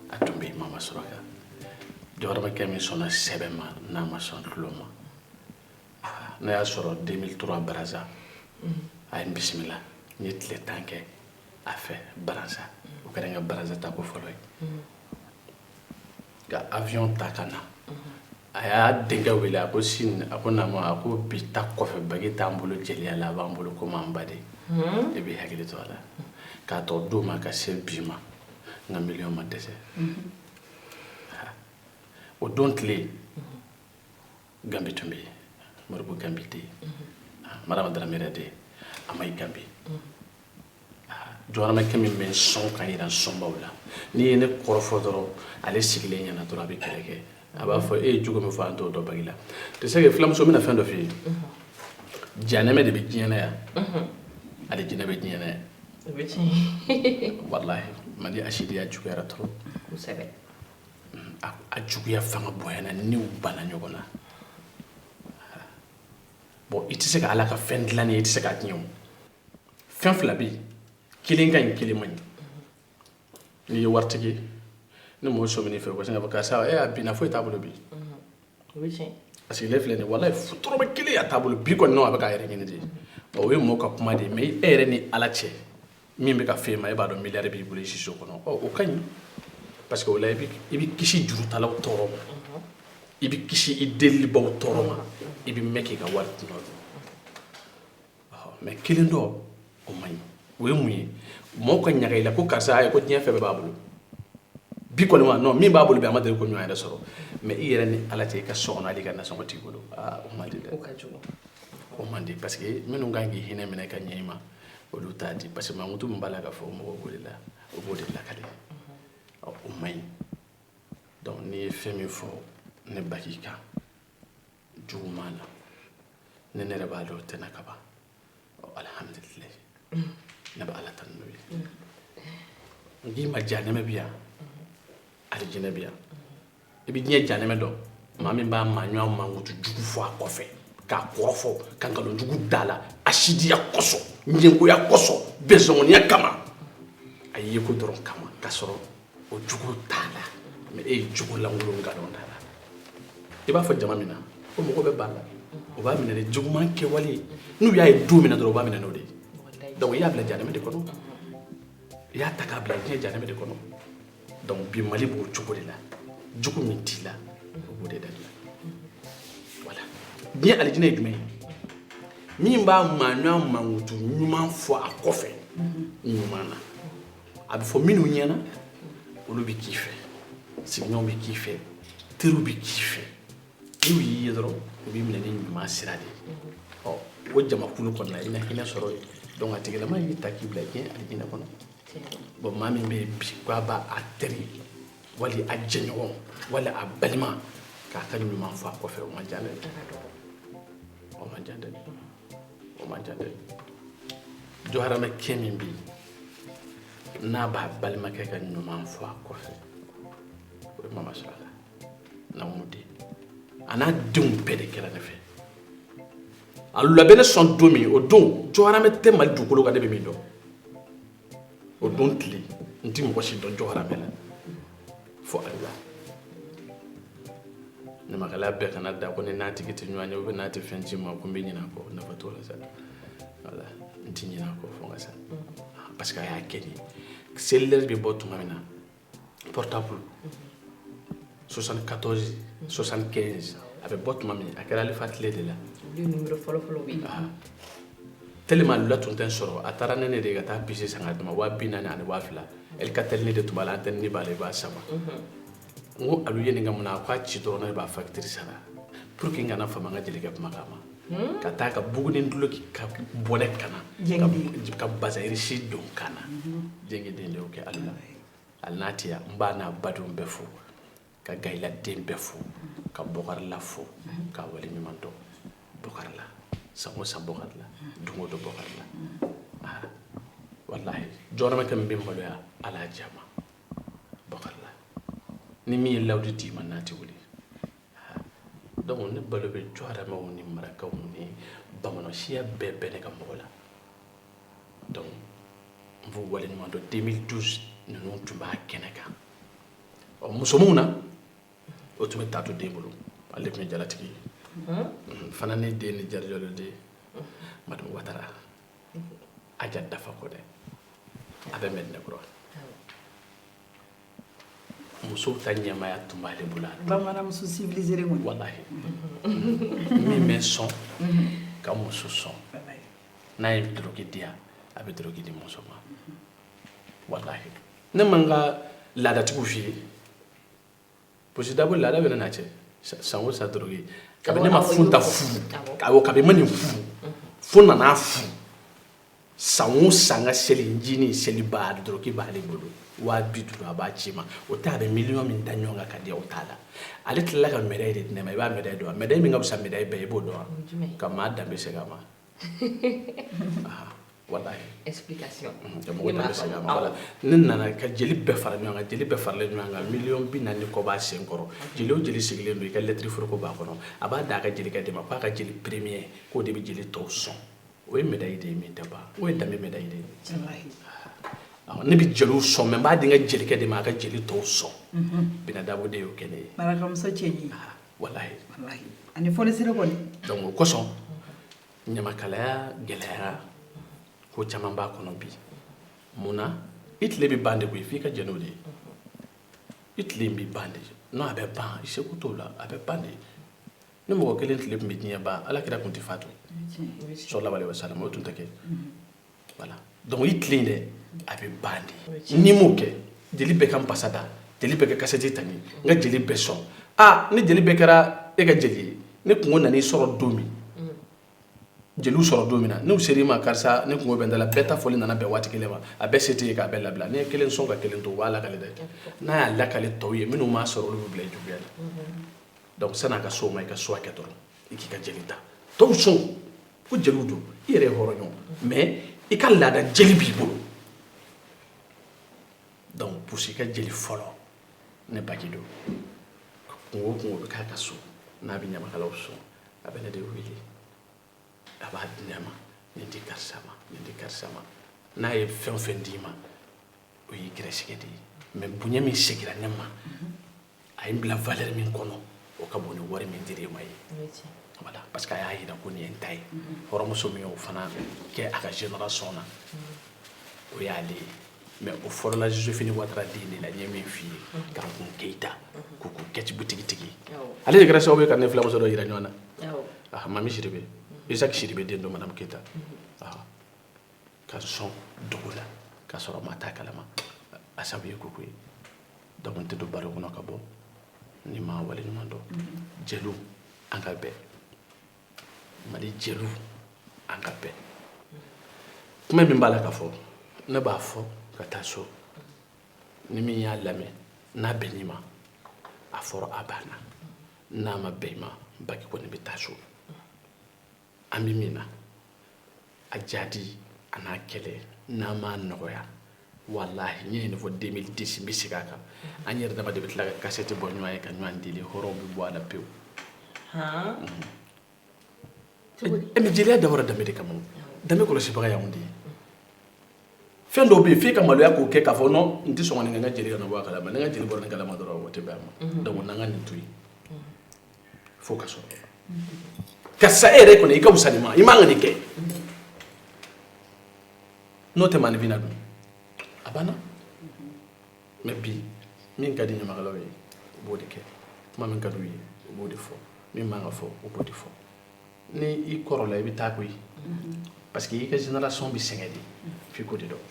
a tun bɛ yen mama suraka jɔharamɛkɛ min sɔnna sɛbɛ ma n'a ma sɔn tulon ma ne y'a sɔrɔ 2003 baraza a ye n bisimila n ye tile tan kɛ a fɛ baraza o kɛra n ka baraza taako fɔlɔ ye ka avion ta ka na a y'a denkɛ wele a ko sini a ko naamu a ko bi ta kɔfɛ bagi t'an bolo jeliya la a b'an bolo komi an ba de e b'i hakili to a la k'a t'o don ma ka se bi ma n ka miliyɔn ma dɛsɛ o don tile ganbi tun bɛ yen moribo ganbi tɛ yen marama daramera tɛ yen amayi ganbi jɔharamɛkɛ min bɛ sɔn ka jira sɔnbaw la n'i ye ne kɔrɔfɔ dɔrɔn ale sigilen ɲɛna dɔrɔn a bɛ kɛlɛ kɛ a b'a fɔ e ye jogo min fɔ an t'o dɔn baki la tu sais que filamuso bɛna fɛn dɔ f'i ye janɛmɛ de bɛ diɲɛ na yan alijinɛ bɛ diɲɛ na yan walahi mali asidiya juguyara trop kosɛbɛ a a juguya fanga bonyana ni u banna ɲɔgɔn na bon i tɛ se ka ala ka fɛn dilannen ye i tɛ se k'a tiɲɛ o fɛn fila bɛ yen kelen ka ɲi kelen man ɲi n'i ye waritigi ye ni mɔgɔ sɔmin'i fɛ u ka sin k'a fɔ karisa e a binna foyi t'a bolo bi o bɛ tiɲɛ a sigilen filɛ nin ye walayi dɔrɔmɛ kelen a t'a bolo bi kɔni non a bɛ k'a yɛrɛ ɲini de bon o ye mɔɔ ka kuma de ye mais e yɛrɛ ni ala cɛ min bɛ ka f'e ma e b'a dɔn miliyari b'i bolo i siso kɔnɔ ɔ o ka ɲi parce que o la i bɛ i bɛ kisi jurutalaw tɔɔrɔ ma i bɛ kisi i delibaaw tɔɔrɔ ma i bɛ mɛn k'i ka wari dun mais kelen dɔ o man ɲi o ye mun ye mɔgɔw ka ɲaga i la ko karisa a ye ko diɲɛ fɛn bɛɛ b'a bolo bi kɔni wa non min b'a bolo bi a ma deli k'o ɲɔgɔn yɛrɛ sɔrɔ mais i yɛrɛ ni ala cɛ i ka so kɔnɔ hali ka nasɔngɔ t'i bolo aa o man di dɛ o man di parce que minnu kan k'i hinɛ minɛ ka ɲɛ i ma olu t'a di parce que mankutu min b'a la k'a fɔ mɔgɔw b'o de la o b'o de lakale o man ɲi donc n'i ye fɛn min fɔ ne baki kan juguman na ni ne yɛrɛ b'a dɔn o tɛ n na ka ban ɔ alihamudulilayi ne bɛ ala tanu n'o ye n k'i ma jahanɛmɛ bɛ yan alijinɛ bɛ yan i bɛ diɲɛ jahanɛmɛ dɔn maa min b'a maaɲɔgɔn mankutu jugu fɔ a kɔfɛ k'a kɔrɔfɔ ka nkalon jugu da a la asidiya kosɔn ɲɛngoya kosɔn bɛnsɔngɔniya kama a yeko dɔrɔn kama k'a sɔrɔ o jugu t'a la mais e ye jugu lankolon nkalon da a la i b'a fɔ jama min na o mɔgɔ bɛ ban a la o b'a minɛ ni juguman kɛwale ye n'u y'a ye don min na dɔrɔn o b'a minɛ n'o de ye donc i y'a bila janɛmɛ de kɔnɔ i y'a ta k'a bila diɲɛ janɛmɛ de kɔnɔ donc bi mali b'o cogo de la jugu min t'i la o b'o de da la voilà diɲɛ alijinɛ ye jumɛn ye min b'a maaɲɔgɔn mankutu ɲuman fɔ a kɔfɛ ɲuman na a bɛ fɔ minnu ɲɛna olu bɛ k'i fɛ sigiɲɔgɔnw bɛ k'i fɛ teriw bɛ k'i fɛ n'u y'i ye dɔrɔn u b'i minɛ ni ɲuman sira de ye ɔ o jamakulu kɔnɔna i na hinɛ sɔrɔ yen donc a tigilama y'i ta k'i bila diɲɛ alijinɛ kɔnɔ bon maa min bɛ yen bi k'a b'a teri wali a jɛɲɔgɔn wali a balima k'a ka ɲuman fɔ a kɔfɛ o man ca dɛ o man ca dɛ o man jan dɛ jɔharamɛ kɛ min bɛ yen n'a b'a balimakɛ ka ɲuman fɔ a kɔfɛ o ye mama sɔrɔ a la namu den a n'a denw bɛɛ de kɛra ne fɛ a labɛn ne sɔn don min o don jɔharamɛ tɛ mali dugukolo kan ne bɛ min dɔn o don tile n ti mɔgɔ si dɔn jɔharamɛ la fo ala ɲamakalaya bɛɛ kana da ko ni n'a tigi tɛ ɲɔgɔn ye ou bien n'a tɛ fɛn ci ma ko n bɛ ɲinɛ a kɔ nafa t'o la sa voilà n ti ɲinɛ a kɔ fo n ka sa parce que a y'a kɛ ni cellulaire bɛ bɔ tuma min na portable 74 75 a bɛ bɔ tuma min a kɛra alifa tile de la tellement lula tun tɛ n sɔrɔ a taara ni ne de ye ka taa puce san ka di ne ma waa bi naani ani waa fila alcatel ne de tun b'a la antenne b'a la i b'a sama n ko alu ye nin kɛ mun na a k'a ci dɔrɔn ne b'a facture sara pour que n kana fama n ka jelikɛ kumakan ma ka taa ka buguni duloki ka bɔnɛ kana ka bazayirisi don kana jɛngɛden de y'o kɛ ali la hali n'a tɛ yan n b'a n'a badenw bɛɛ fo ka gayila den bɛɛ fo ka bɔkarila fo k'a waleɲuman dɔn bɔkarila san o san bɔkarila don o don bɔkarila ah, walahi jɔrɔmɛ kɛ min bɛ n maloya ala y'a diya ma bɔkarila ni min ye layidu d'i ma n'a tɛ wuli donc ne balo bɛ jɔharamɛw ni marakaw ni bamanansiya bɛɛ bɛ ne ka mɔgɔ la donc n b'u waleɲumandɔn 2012 ninnu tun b'a kɛnɛ kan ɔ musomanw na o tun bɛ taato den bolo ale de tun ye jalatigi ye mhm. fana ne den ni jari jalo den madame watara aja dafa kɔnɛ a bɛ mɛdinɛkura musow ta ɲɛmaaya tun b'ale bolo a don. bamananmuso civilisé le kɔni walahi min bɛ sɔn ka muso sɔn n'a ye doroki di yan a bɛ doroki di muso ma walahi ne man ka laadatigiw f'i ye parce que d'abord laada bɛ ne n'a cɛ san o san doroki kabi ne ma furu ta furu kabi ma nin furu fo nana furu san o san ka selicinin seli ba doroki b'ale bolo waa bi duuru a b'a ci ma o ta bɛ miliyɔn min da ɲɔgɔn kan ka di o t'a la ale tilala ka medayi de di ne ma i b'a medayi dɔn wa medayi min ka fisa medayi bɛɛ i b'o dɔn ka maa danbe segin a ma ne nana ka jeli bɛɛ fara ɲɔgɔn kan jeli bɛɛ faralen ɲɔgɔn kan miliyɔn bi naani ni kɔ b'a sen kɔrɔ jeli o jeli sigilen don i ka lɛtiri foroko b'a kɔnɔ a b'a d'a ka jelikɛ de ma k'a ka jeli premier k'o de bɛ jeli tɔw sɔn o ye medayi de ye min tɛ ban o ye danbe medayi de ye ne bɛ jeliw sɔn mɛ n b'a di n ka jelikɛ de ma a ka jeli tɔw sɔn bina dabo de y'o kɛ ne ye walahi walahi ani fonisire kɔni donc o kosɔn ɲamakalaya gɛlɛyara ko caman b'a kɔnɔ bi mun na i tile bɛ ban de koyi f'i ka jɛn n'o de ye i tile in bɛ ban de non a bɛ ban i seko t'o la a bɛ ban de ni mɔgɔ kelen tile tun bɛ diɲɛ ban ala kira tun tɛ fatu salalahu alehi wasalam o tun tɛ kɛ voilà donc i tile dɛ a bɛ ban de n'i m'o kɛ jeli bɛɛ ka n pasa da jeli bɛɛ ka kasɛti ta min n ka jeli bɛɛ sɔn aa ni jeli bɛɛ kɛra e ka jeli ye ni kunko nan'i sɔrɔ don min jeliw sɔrɔ don min na n'u ser'i ma karisa ne kunko bɛ n da la bɛɛ ta fɔli nana bɛn waati kelen ma a bɛɛ se t'e ye k'a bɛɛ labila n'i ye kelen sɔn ka kelen to u b'a lakale dɛ n'a y'a lakale tɔw ye minnu m'a sɔrɔ olu bɛ bila i juguya la donc san'a ka s'o ma i ka so hakɛ dɔrɔn i k'i ka jeli ta tɔw sɔn ko jeliw don i yɛrɛ ye hɔrɔn ye mais i ka laada jeli b'i bolo donc pusi ka jeli fɔlɔ ne baji don kunko o kunko bɛ k'a ka so n'a bɛ ɲamakalaw sɔn a bɛ ne de wele a b'a di ne ma nin di karisa ma nin di karisa ma n'a ye fɛn o fɛn d'i ma o y'i gɛrɛsɛgɛ de ye mais bonya min segira ne ma a ye n bila valeur min kɔnɔ o ka bon ni wari min dira e ma ye voilà parce que a y'a jira ko nin ye n ta ye hɔrɔnmuso min y'o fana kɛ a ka génération na o y'ale ye mais o fɔlɔla joséphine ouattara den de la n ye min f'i ye kankun keyita koko kɛti butigitigi ale de kɛra sababu ye ka ne filamuso dɔ jira ɲɔgɔn na ah mami sidibe isaac sidibe den don madame keyita ah ka sɔn dogo la k'a sɔrɔ maa t'a kalama a sabu ye koko ye donc n tɛ don baro kɔnɔ ka bɔ ni n ma wale ɲuman dɔn jeliw an ka bɛn mali jeliw an ka bɛn kuma min b'a la ka fɔ ne b'a fɔ ka taa so ni min y'a lamɛn n'a bɛnn'i ma a fɔra a banna n'a ma bɛn i ma baji kɔni bɛ taa so an bɛ min na a jahadi an'a kɛlɛ n'a ma nɔgɔya walahi n ye nin de fɔ deux mille dix n bɛ segin a kan an yɛrɛ dama de bɛ tila ka kasɛti bɔ ɲɔgɔn ye ka ɲɔgɔn deli hɔrɔnw bɛ bɔ a la pewu ɛ mais jeliya dabɔra danbe de kama o danbe kɔlɔsibaga y'anw de ye fɛn dɔw bɛ yen f'e ka maloya k'o kɛ k'a fɔ non n tɛ sɔn ka nin kɛ n ka jeli kana bɔ a kalama ni n ka jeli bɔra nin kalama dɔrɔn o tɛ bɛn a ma donc n na n ka nin to yen fo ka sɔrɔ karisa e yɛrɛ kɔni i ka wusa nin ma i man ka nin kɛ n'o tɛ maanifin na dun a banna mais bi min ka di ɲamakalaw ye u b'o de kɛ kuma min ka d'u ye u b'o de fɔ min man ka fɔ u b'o de fɔ ni i kɔrɔla i bɛ taa koyi parce que i ka génération bɛ sɛgɛn de f'i k'o de dɔn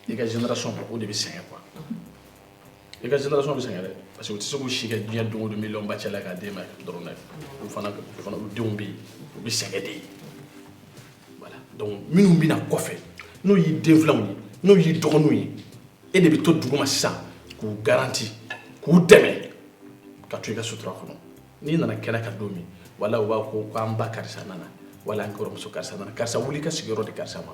i ka génération o de bɛ sɛgɛn quoi i ka génération bɛ sɛgɛn dɛ parce que u tɛ se k'u si kɛ diɲɛ don o don miliyɔn ba cɛ la k'a d'e ma dɔrɔn dɛ u fana u fana u denw bɛ yen u bɛ sɛgɛn de voilà donc minnu bɛ na kɔfɛ n'o y'i den filanw ye n'o y'i dɔgɔninw ye e de bɛ to duguma sisan k'u garanti k'u dɛmɛ ka to i ka sutura kɔnɔ n'i nana kɛnɛ kan don min wala u b'a fɔ ko an ba karisa nana wala an kɔrɔmuso karisa nana karisa wuli i ka sigiyɔrɔ di karisa ma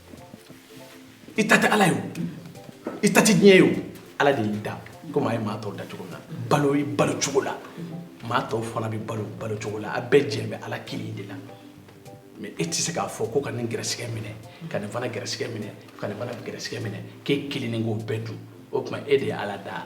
i ta tɛ ala ye o i ta tɛ diɲɛ ye o ala de y'i da komi a ye maa tɔw da cogo min na balo i balo cogo la maa tɔw fana bɛ balo balo cogo la a bɛɛ jɛ bɛ ala kelen de la mais e tɛ se k'a fɔ ko ka nin gɛrɛsɛgɛ minɛ ka nin fana gɛrɛsɛgɛ minɛ ka nin fana gɛrɛsɛgɛ minɛ k'e kelen ni k'o bɛɛ dun o tuma e de ye ala da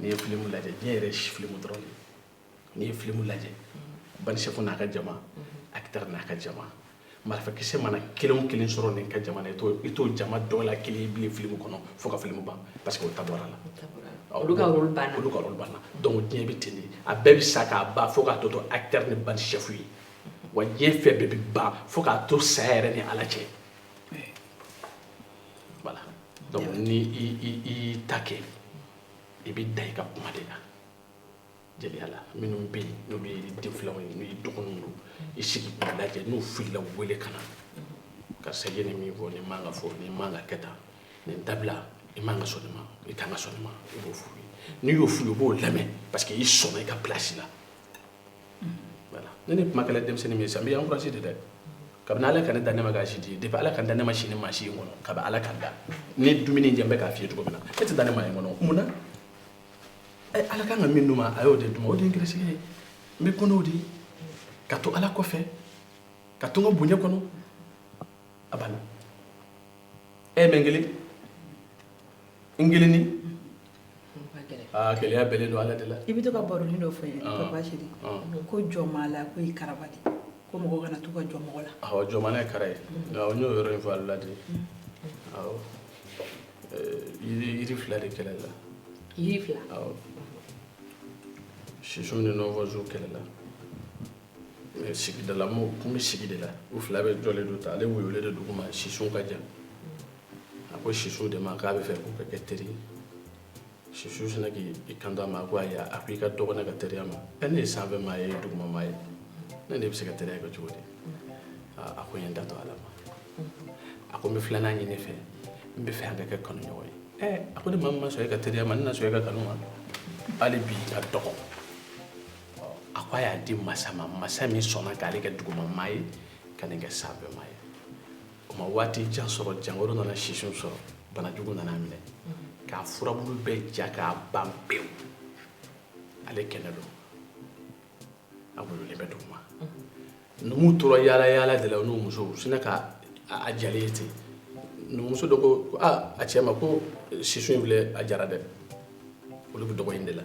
n'i ye filimu lajɛ diɲɛ yɛrɛ ye filimu dɔrɔn de n'i ye filimu lajɛ banisɛfu n'a ka jama acteur n'a ka jama marifakisɛ mana kelen o kelen sɔrɔ nin ka jama na i t'o i t'o jama dɔ la kelen ye bilen filimu kɔnɔ fo ka filimu ban parce que o ta bɔra la olu ka rôle banna olu ka rôle banna donc diɲɛ bɛ ten de a bɛɛ bɛ sa k'a ban fo k'a tɔ to acteur ni banisɛfu ye wa diɲɛ fɛn bɛɛ bɛ ban fo k'a to saya yɛrɛ ni ala cɛ voilà donc ni i i i y'i ta kɛ i bɛ da i ka kuma de la jeliya la minnu bɛ yen n'olu ye den filanw ye n'u ye dɔgɔninw don i sigi k'u lajɛ n'u filila u wele ka na karisa i ye nin min fɔ nin man ka fɔ nin man ka kɛ tan nin dabila i man ka sɔn nin ma i kan ka sɔn nin ma i b'o f'u ye n'i y'o f'u ye u b'o lamɛn parce que i sɔnna i ka place la ne ni kuma kɛla denmisɛnnin min ye sa n b'i encouragé de dɛ kabini Ala ka ne da ne ma k'a si di depuis Ala ka n da ne ma si ni maa si ye n kɔnɔ kabini Ala ka n da ni dumuni in diya n bɛ k'a f'i ye cogo min na e tɛ da ne ma yen kɔnɔ mun na ɛ Ala kan ka min d'u ma a y'o de d'u ma o de ye n gɛrɛsɛgɛ ye n bɛ ko n'o de ye ka to Ala kɔfɛ ka to n ka bonya kɔnɔ a banna ɛ mais n kelen n kelenni Gɛlɛya bɛ don ala la i bɛ to ka baronin dɔ fɔ n ye ko jɔn maa la ko i kara ko mɔgɔ kana to ka jɔn mɔgɔ la jɔn ye kara ye n y'o yɔrɔ in fɔ a la de jiri fila de kɛlɛla sisun ni nɔnfɔnsun kɛlɛla sigida la tun bɛ sigi de la u fila bɛɛ jɔlen don ta ale woyolen de dugu ma sisun ka jan a ko sisun de ma k'a bɛ fɛ k'u ka kɛ teri ye sisun sinna k'i kanto a ma a ko ayi a ko i ka dɔgɔ ne ka teriya ma ɛ ne ye sanfɛmaa ye e ye dugumamaa ye ne n'e bɛ se ka teriya kɛ cogo di aa a ko n ye n ta to ala ma a ko n bɛ filanan ɲini i fɛ n bɛ fɛ an ka kɛ kanuɲɔgɔn ye ɛ a ko ne maa min ma sɔn e ka teriya ma ne na sɔn e ka kanu ma hali bi i ka dɔgɔ ɔ, a ko a y'a di masa ma masa min sɔnna k'ale kɛ dugumamaa ye ka nin kɛ sanfɛmaa ye o ma waati jan sɔrɔ jankaro nana sisun sɔrɔ banajugu nana minɛ k'a furabulu bɛɛ ja k'a ban pewu ale kɛnɛ don a woyolen bɛ duguma numuw tora yaala-yaala de la u n'u musow sinna ka a jalen ye ten numuso dɔ ko ko a a cɛ ma ko sisun in filɛ a jara dɛ olu bɛ dɔgɔ in de la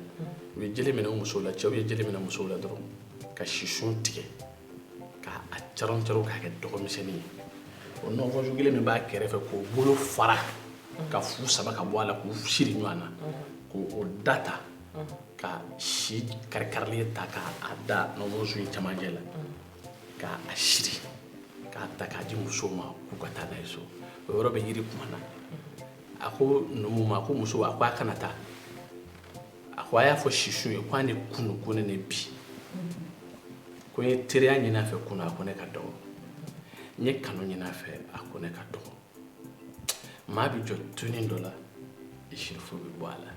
u ye jele minɛ u musow la cɛw ye jele minɛ musow la dɔrɔn ka sisun tigɛ ka a caron caron k'a kɛ dɔgɔmisɛnnin ye o nɔnfɔnsun kelen min b'a kɛrɛfɛ k'o bolo fara ka fu saba ka bɔ a la k'u siri ɲɔgɔn na k'o da ta ka si karikarilen ta k'a da nɔnfɔnsun in cɛmancɛ la k'a siri k'a ta k'a di musow ma k'u ka taa n'a ye so o yɔrɔ bɛɛ yiri kumana a ko numu ma ko muso a ko a kana taa a ko a y'a fɔ sisun ye k'a ni kunu ko ne ni bi ko n ye teriya ɲini a fɛ kunu a ko ne ka dɔgɔ n ye kanu ɲini a fɛ a ko ne ka dɔgɔ maa bɛ jɔn tunin dɔ la i sirifu bɛ bɔ a la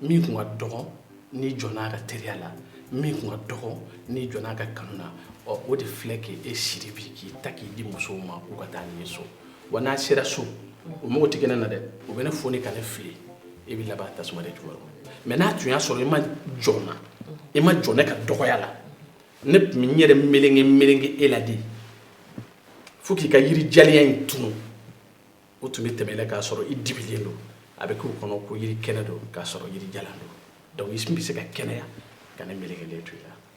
min tun ka dɔgɔ n'i jɔnna a ka teriya la min tun ka dɔgɔ n'i jɔnna a ka kanu na o de filɛ k'e siri bi k'i ta k'i di musow ma k'u ka taa n'i ye so wa n'a sera so u mago tɛ kɛ ne na dɛ u bɛ ne foni ka ne fili e bɛ laban tasuma de jukɔrɔ mɛ n'a tun y'a sɔrɔ e ma jɔn n na e ma jɔn ne ka dɔgɔya la ne tun bɛ n yɛrɛ melenge melenge e la de fo k'i ka yiri jaliya in tunu u tun bɛ tɛmɛ i la k'a sɔrɔ i dibilen don a bɛ k'u kɔnɔ ko yiri kɛnɛ don k'a sɔrɔ yiri jalan don donc i bɛ se ka kɛnɛya ka ne melekelen to i la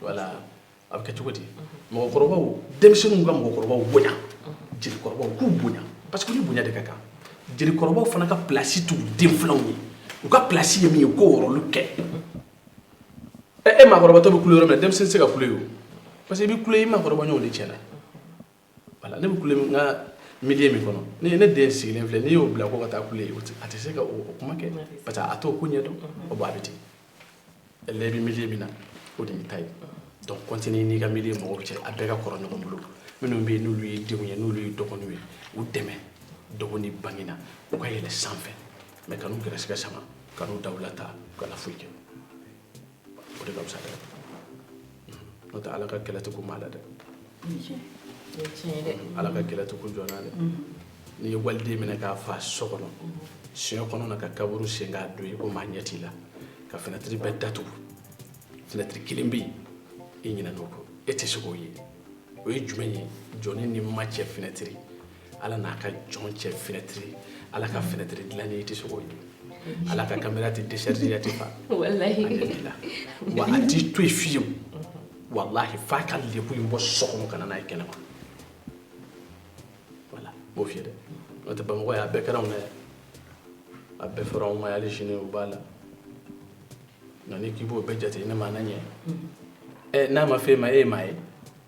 voilà a bɛ kɛ cogo di mɔgɔkɔrɔbaw denmisɛnninw ka mɔgɔkɔrɔbaw bonya jelikɔrɔbaw k'u bonya parce que u ni bonya de ka kan jelikɔrɔbaw fana ka pilasi t'u denfilanw ye u ka pilasi ye min ye u k'o rɔlu kɛ ɛ e maakɔrɔbatɔ bɛ kule yɔrɔ min na denmisɛnnin tɛ se ka kule yen o parce que i bɛ kule i maakɔrɔbaɲɔgɔn de cɛla voilà ne bɛ kule n ka milieu min kɔnɔ ne ne den sigilen filɛ n'i y'o bila ko ka taa kule yen a tɛ se ka o kuma kɛ parce que a t'o ko ɲɛdɔn o b'a bɛ ten ele bɛ milieu min na o de y'i ta ye donc continuer n'i ka milieu mɔgɔw cɛ a bɛɛ ka kɔrɔ ɲɔgɔn bolo minnu bɛ yen n'olu ye denw ye n'olu ye dɔgɔninw ye u dɛmɛ dɔgɔ ni bange na u ka yɛlɛn sanfɛ mais kan'u gɛrɛsɛgɛ sama kan'u dawula ta u kana foyi kɛ o de ka fisa dɛ n'o tɛ ala ka kɛlɛ tɛ kun maa la dɛ ala ka kɛlɛ tɛ kun jɔn na dɛ n'i ye waliden minɛ k'a faa so kɔnɔ siɲɛ kɔnɔna ka kaburu sen k'a don i ko maa ɲɛ t'i la ka fenɛtiri bɛɛ datugu fenɛtiri kelen bɛ yen i ɲinɛna o kɔ e tɛ se k'o ye o ye jumɛn ye jɔnnin ni ma cɛ fenɛtiri ala n'a ka jɔn cɛ fɛnɛtiri ala ka fɛnɛtiri dilannen i tɛ se k'o ye ala ka kamera tɛ décharger a tɛ fa wa a t'i to yen fiyewu walahi f'a ka lebu in bɔ so kɔnɔ ka na n'a ye kɛnɛ ma voilà n b'o f'i ye dɛ n'o tɛ bamakɔ yan a bɛɛ kɛra anw na yan a bɛɛ fɔra anw ma yan hali sini u b'a la nka n'i k'i b'o bɛɛ jate ne ma na ɲɛ ɛ n'a ma f'e ma e ye maa ye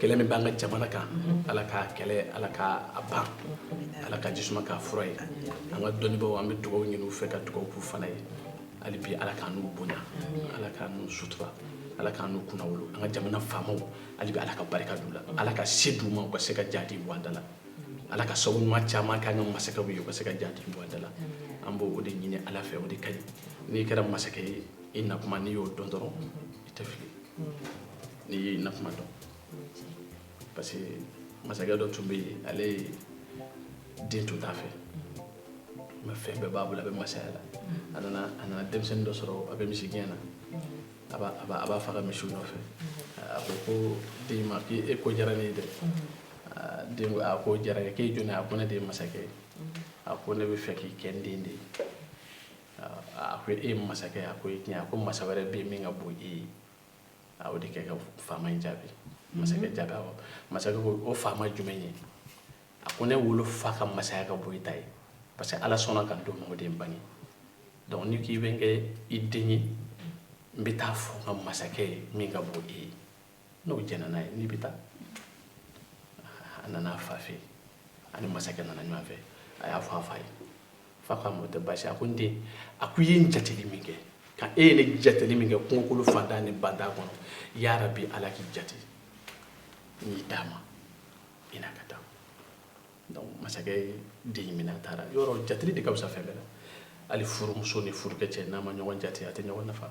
kɛlɛ min b'an ka jamana kan ala k'a kɛlɛ ala k'a ban ala ka ji suma k'a fura ye an ka dɔnnibaaw an bɛ dugaw ɲini u fɛ ka dugaw k'u fana ye hali bi ala k'an n'u bonya ala k'an n'u sutura ala k'an n'u kunnawolo an ka jamana faamaw hali bi ala ka barika d'u la ala ka se d'u ma u ka se ka jadi bɔ an da la ala ka sabu ɲuman caman k'an ka masakɛw ye u ka se ka jadi bɔ an da la an b'o de ɲini ala fɛ o de ka ɲi n'i kɛra masakɛ ye i nakuma n'i y'o dɔn dɔrɔn i tɛ fili n'i y'i nakuma dɔn parce que masakɛ dɔ tun bɛ yen ale den tun t'a fɛ mais fɛn bɛɛ b'a bolo a bɛ masaya la a nana a nana denmisɛnnin dɔ sɔrɔ a bɛ misigɛn na a b'a a b'a- a b'a fa ka misiw nɔfɛ a ko ko den ma k'e ko diyara ne ye dɛ Aa, den ko a ko diyara n ye k'e jɔn ye a ko ne de ye masakɛ ye a ko ne bɛ fɛ k'i kɛ n den de ye Aa, a ko e ye masakɛ ye a ko i tiɲɛ a ko masa wɛrɛ bɛ yen min ka bon i ye a y'o de kɛ ka faama in jaabi masakɛ jaabi awɔ masakɛ ko o faama jumɛn ye a ko ne wolofa ka masaya ka bon i ta ye parce que ala sɔnna ka n d'o ma o de ye n bange donc n'i ko i bɛ n kɛ i den ye n bɛ taa fɔ n ka masakɛ ye min ka bon i ye n'o jɛnna n'a ye n'i bɛ taa a nana a fa fɛ yen a ni masakɛ nana ɲɔgɔn fɛ a y'a fɔ a fa ye fa ko a ma o tɛ baasi a ko n den a ko i ye n jateli min kɛ ka e ye ne jateli min kɛ kungokolon fantan ni bantan kɔnɔ yarabi ala k'i jate n y'i d'a ma i n'a ka taa donc masakɛ ye den in minɛ a taara yɔrɔ jateli de ka fisa fɛn bɛɛ la hali furumuso ni furukɛ cɛ n'a ma ɲɔgɔn jate a tɛ ɲɔgɔn nafa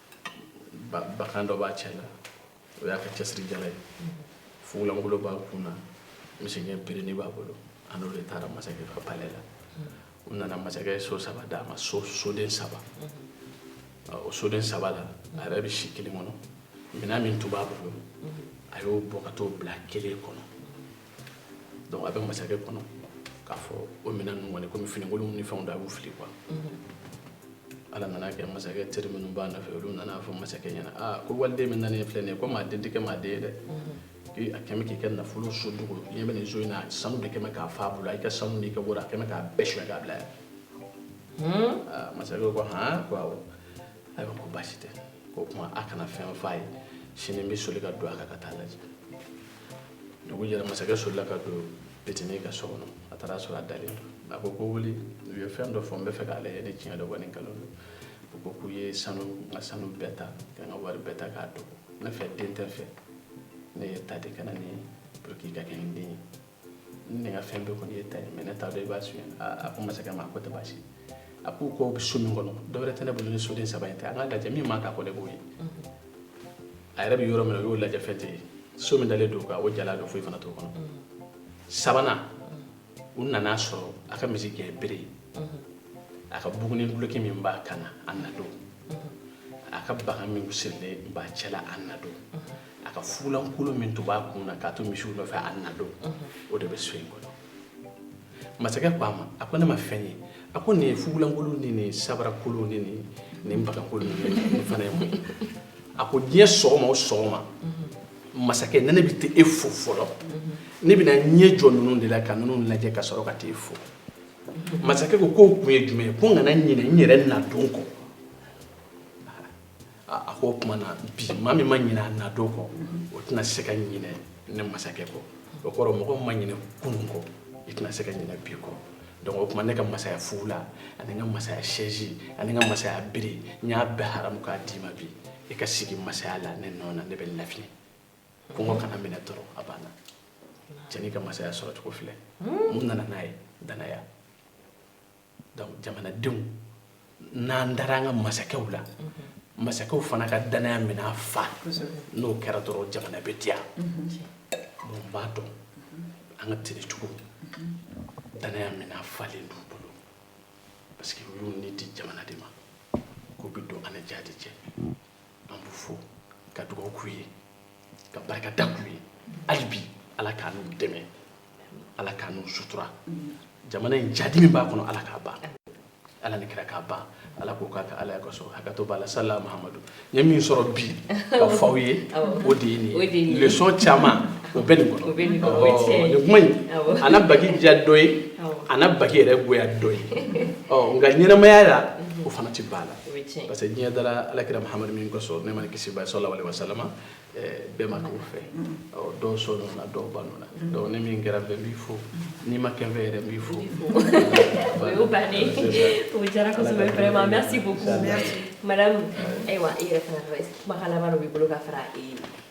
bakan dɔ b'a cɛ la o y'a ka cɛsirijala ye fugulankolon b'a kun na misigɛn berenin b'a bolo a n'o de taara masakɛ ka palɛ la u nana masakɛ ye so saba d'a ma so soden saba o soden saba la a yɛrɛ bɛ si kelen kɔnɔ minɛn min tun b'a bolo a y'o bɔ ka t'o bila kelen kɔnɔ a bɛ masakɛ kɔnɔ k'a fɔ o minɛn ninnu kɔni komi finikolon ni fɛnw don a b'u fili quoi ala nana kɛ masakɛ teri minnu b'a nɔfɛ olu nana fɔ masakɛ ɲɛna aa ko waliden min nanen filɛ nin ye ko maa den tɛ kɛ maa den ye dɛ k'i a kɛlen bɛ k'i ka nafolo so dogo i ɲɛ bɛ nin so in na sanu de kɛlen bɛ k'a fa bolo a y'i ka sanu n'i ka wari a kɛlen bɛ k'a bɛɛ suɲɛ k'a bila yan aa masakɛ ko han ko awɔ ayiwa ko baasi tɛ ko o tuma a kana fɛn f'a ye sini n bɛ soli ka don a kan ka taa a lajɛ dugu jɛra masakɛ solila ka don petini ka so kɔnɔ a taara sɔrɔ a dalen don a ko ko wuli u ye fɛn dɔ fɔ n b'a fɛ k'a lajɛ ni tiɲɛ don wa ni nkalon don u ko k'u ye sanu n ka sanu bɛɛ ta ka n ka wari bɛɛ ta k'a dogo ne fɛ den tɛ n fɛ ne y'i ta de ka na n'i ye pour que i ka kɛ n den ye ne ka fɛn bɛɛ kɔni y'i ta ye mais ne t'a dɔn i b'a suɲɛ a ko masakɛ ma a k'o tɛ baasi ye a ko k'o bɛ so min kɔnɔ dɔwɛrɛ tɛ ne bolo ni soden saba in tɛ an k'a lajɛ min man ka kɔ ne b'o ye a yɛrɛ bɛ yɔrɔ min na u y'o lajɛ fɛn tɛ ye so min dalen don o jalan don foyi fana t'o kɔnɔ sabanan u nana sɔrɔ a ka misi gɛn bere a ka buguni duloki min b'a kan na a nadon a ka bagan min sirilen b'a cɛla a nadon a ka fugulankolon min tun b'a kun na k'a to misiw nɔfɛ a nadon o de bɛ so in kɔnɔ masakɛ ko a ma a ko ne ma fɛn ye a ko nin ye fugulankolon nin ni sabarakolon nin ni bagankolon nin fana ye mun ye a ko diɲɛ sɔgɔma o sɔgɔma masakɛ ni ne bɛ taa e fo fɔlɔ ne bɛna n ɲɛ jɔ ninnu de la ka ninnu lajɛ ka sɔrɔ ka taa e fo masakɛ ko k'o kun ye jumɛn ye ko n kana ɲinɛ n yɛrɛ nadon kɔ a ko o tuma na bi maa min ma ɲinɛ a nadon kɔ o tɛna se ka ɲinɛ ne masakɛ kɔ o kɔrɔ mɔgɔ ma ɲinɛ kunun kɔ i tɛna se ka ɲinɛ bi kɔ donc o tuma ne ka masaya fugula ani n ka masaya sɛzi ani n ka masaya bere n y'a bɛɛ haramu k'a d'i ma bi i ka sigi masaya la ne nɔ na ne bɛ lafiɲɛ kɔngɔ kana n minɛ dɔrɔn a banna cɛnin ka masaya sɔrɔcogo filɛ mun nana n'a ye danaya donc jamanadenw n'an dara an ka masakɛw la masakɛw fana ka danaya minɛn fa n'o kɛra dɔrɔn jamana bɛ diya bon n b'a dɔn an ka tenue tigiw danaya minɛn falen don u bolo parce que u y'u ni di jamana de ma k'u bɛ don an ni jadi cɛ an b'u fo ka dugawu k'u ye ka barika da k'u ye hali bi ala k'an n'u dɛmɛ ala k'an n'u sutura jamana in jadi min b'a kɔnɔ ala k'a ban ala ni kira k'a ban ala k'o k'a ka alaya kosɔn hakɛto b'a la sala mahamadu n ye min sɔrɔ bi k'a f'aw ye o de ye nin ye leçon caman o bɛ nin kɔnɔ nin kuma in a na baki diya dɔ ye a na baki yɛrɛ goya dɔ ye nka ɲɛnamaya la o fana tɛ ban a la parce que diɲɛ dara ala kira mahamadu min kosɔn nɛɛma ni kisi b'a ye salalahu alayi wasalama bɛɛ ma k'o fɛ dɔw sɔnna o la dɔw banna o la donc ne min kɛra n fɛ n b'i fo n'i ma kɛ n fɛ yɛrɛ n b'i fo o y'o bannen o diyara kosɛbɛ vraiment merci beaucoup madame ayiwa i yɛrɛ fana kumakan laban dɔ b'i bolo ka fara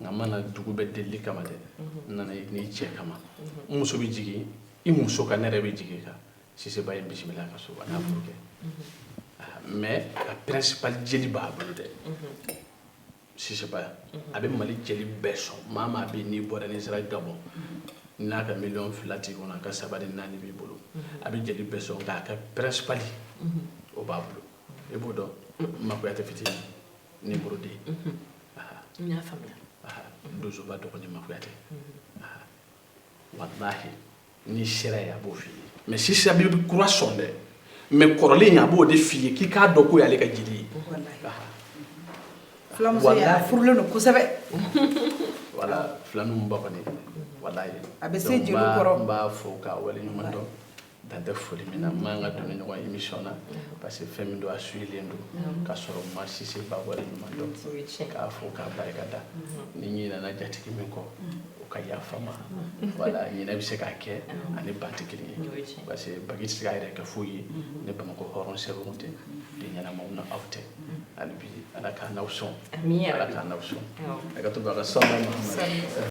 nka n ma na dugu bɛɛ delili kama dɛ n nana i n'i cɛ kama n muso bɛ jigin i muso kan ne yɛrɛ bɛ jigin i kan sise ba ye n bisimila ka so a n'a furukɛ mais a principal jeli b'a bolo dɛ sise ba a bɛ mali jeli bɛɛ sɔn maa maa bɛ n'i bɔra n'i sera gabɔn n'a ka miliyɔn fila t'i kɔnɔ a ka saba ni naani b'i bolo a bɛ jeli bɛɛ sɔn nka a ka principal o b'a bolo i b'o dɔn ma kuyate fitinin ni burudi n y'a faamuya donsoba dɔgɔnin ma kuyate walahi n'i sera yen a b'o f'i ye mais sise bɛ kura sɔn dɛ mais kɔrɔlen in a b'o de f'i ye k'i k'a dɔn k'o y'ale ka jeli ye fulamuso ye a furulen don kosɛbɛ voilà filaninw ba kɔni walahi a bɛ se jeliw kɔrɔ n b'a fo k'a waleɲuman dɔn dan tɛ foli min na n man ka don nin ɲɔgɔn émission na parce que fɛn min don a suivilen don k'a sɔrɔ n ma Sise Ba waleɲuman dɔn k'a fo k'a barika da ni n ɲinɛna jatigi min kɔ o ka yafa n ma voilà ɲinɛ bɛ se k'a kɛ a ni ban tɛ kelen ye parce que bagi tɛ se k'a yɛrɛ kɛ foyi ye ni Bamakɔ hɔrɔn sɛbɛw tɛ den ɲɛnamaw n'aw tɛ hali bi Ala k'an n'aw sɔn Ala k'an n'aw sɔn hakɛto b'a ka sɔn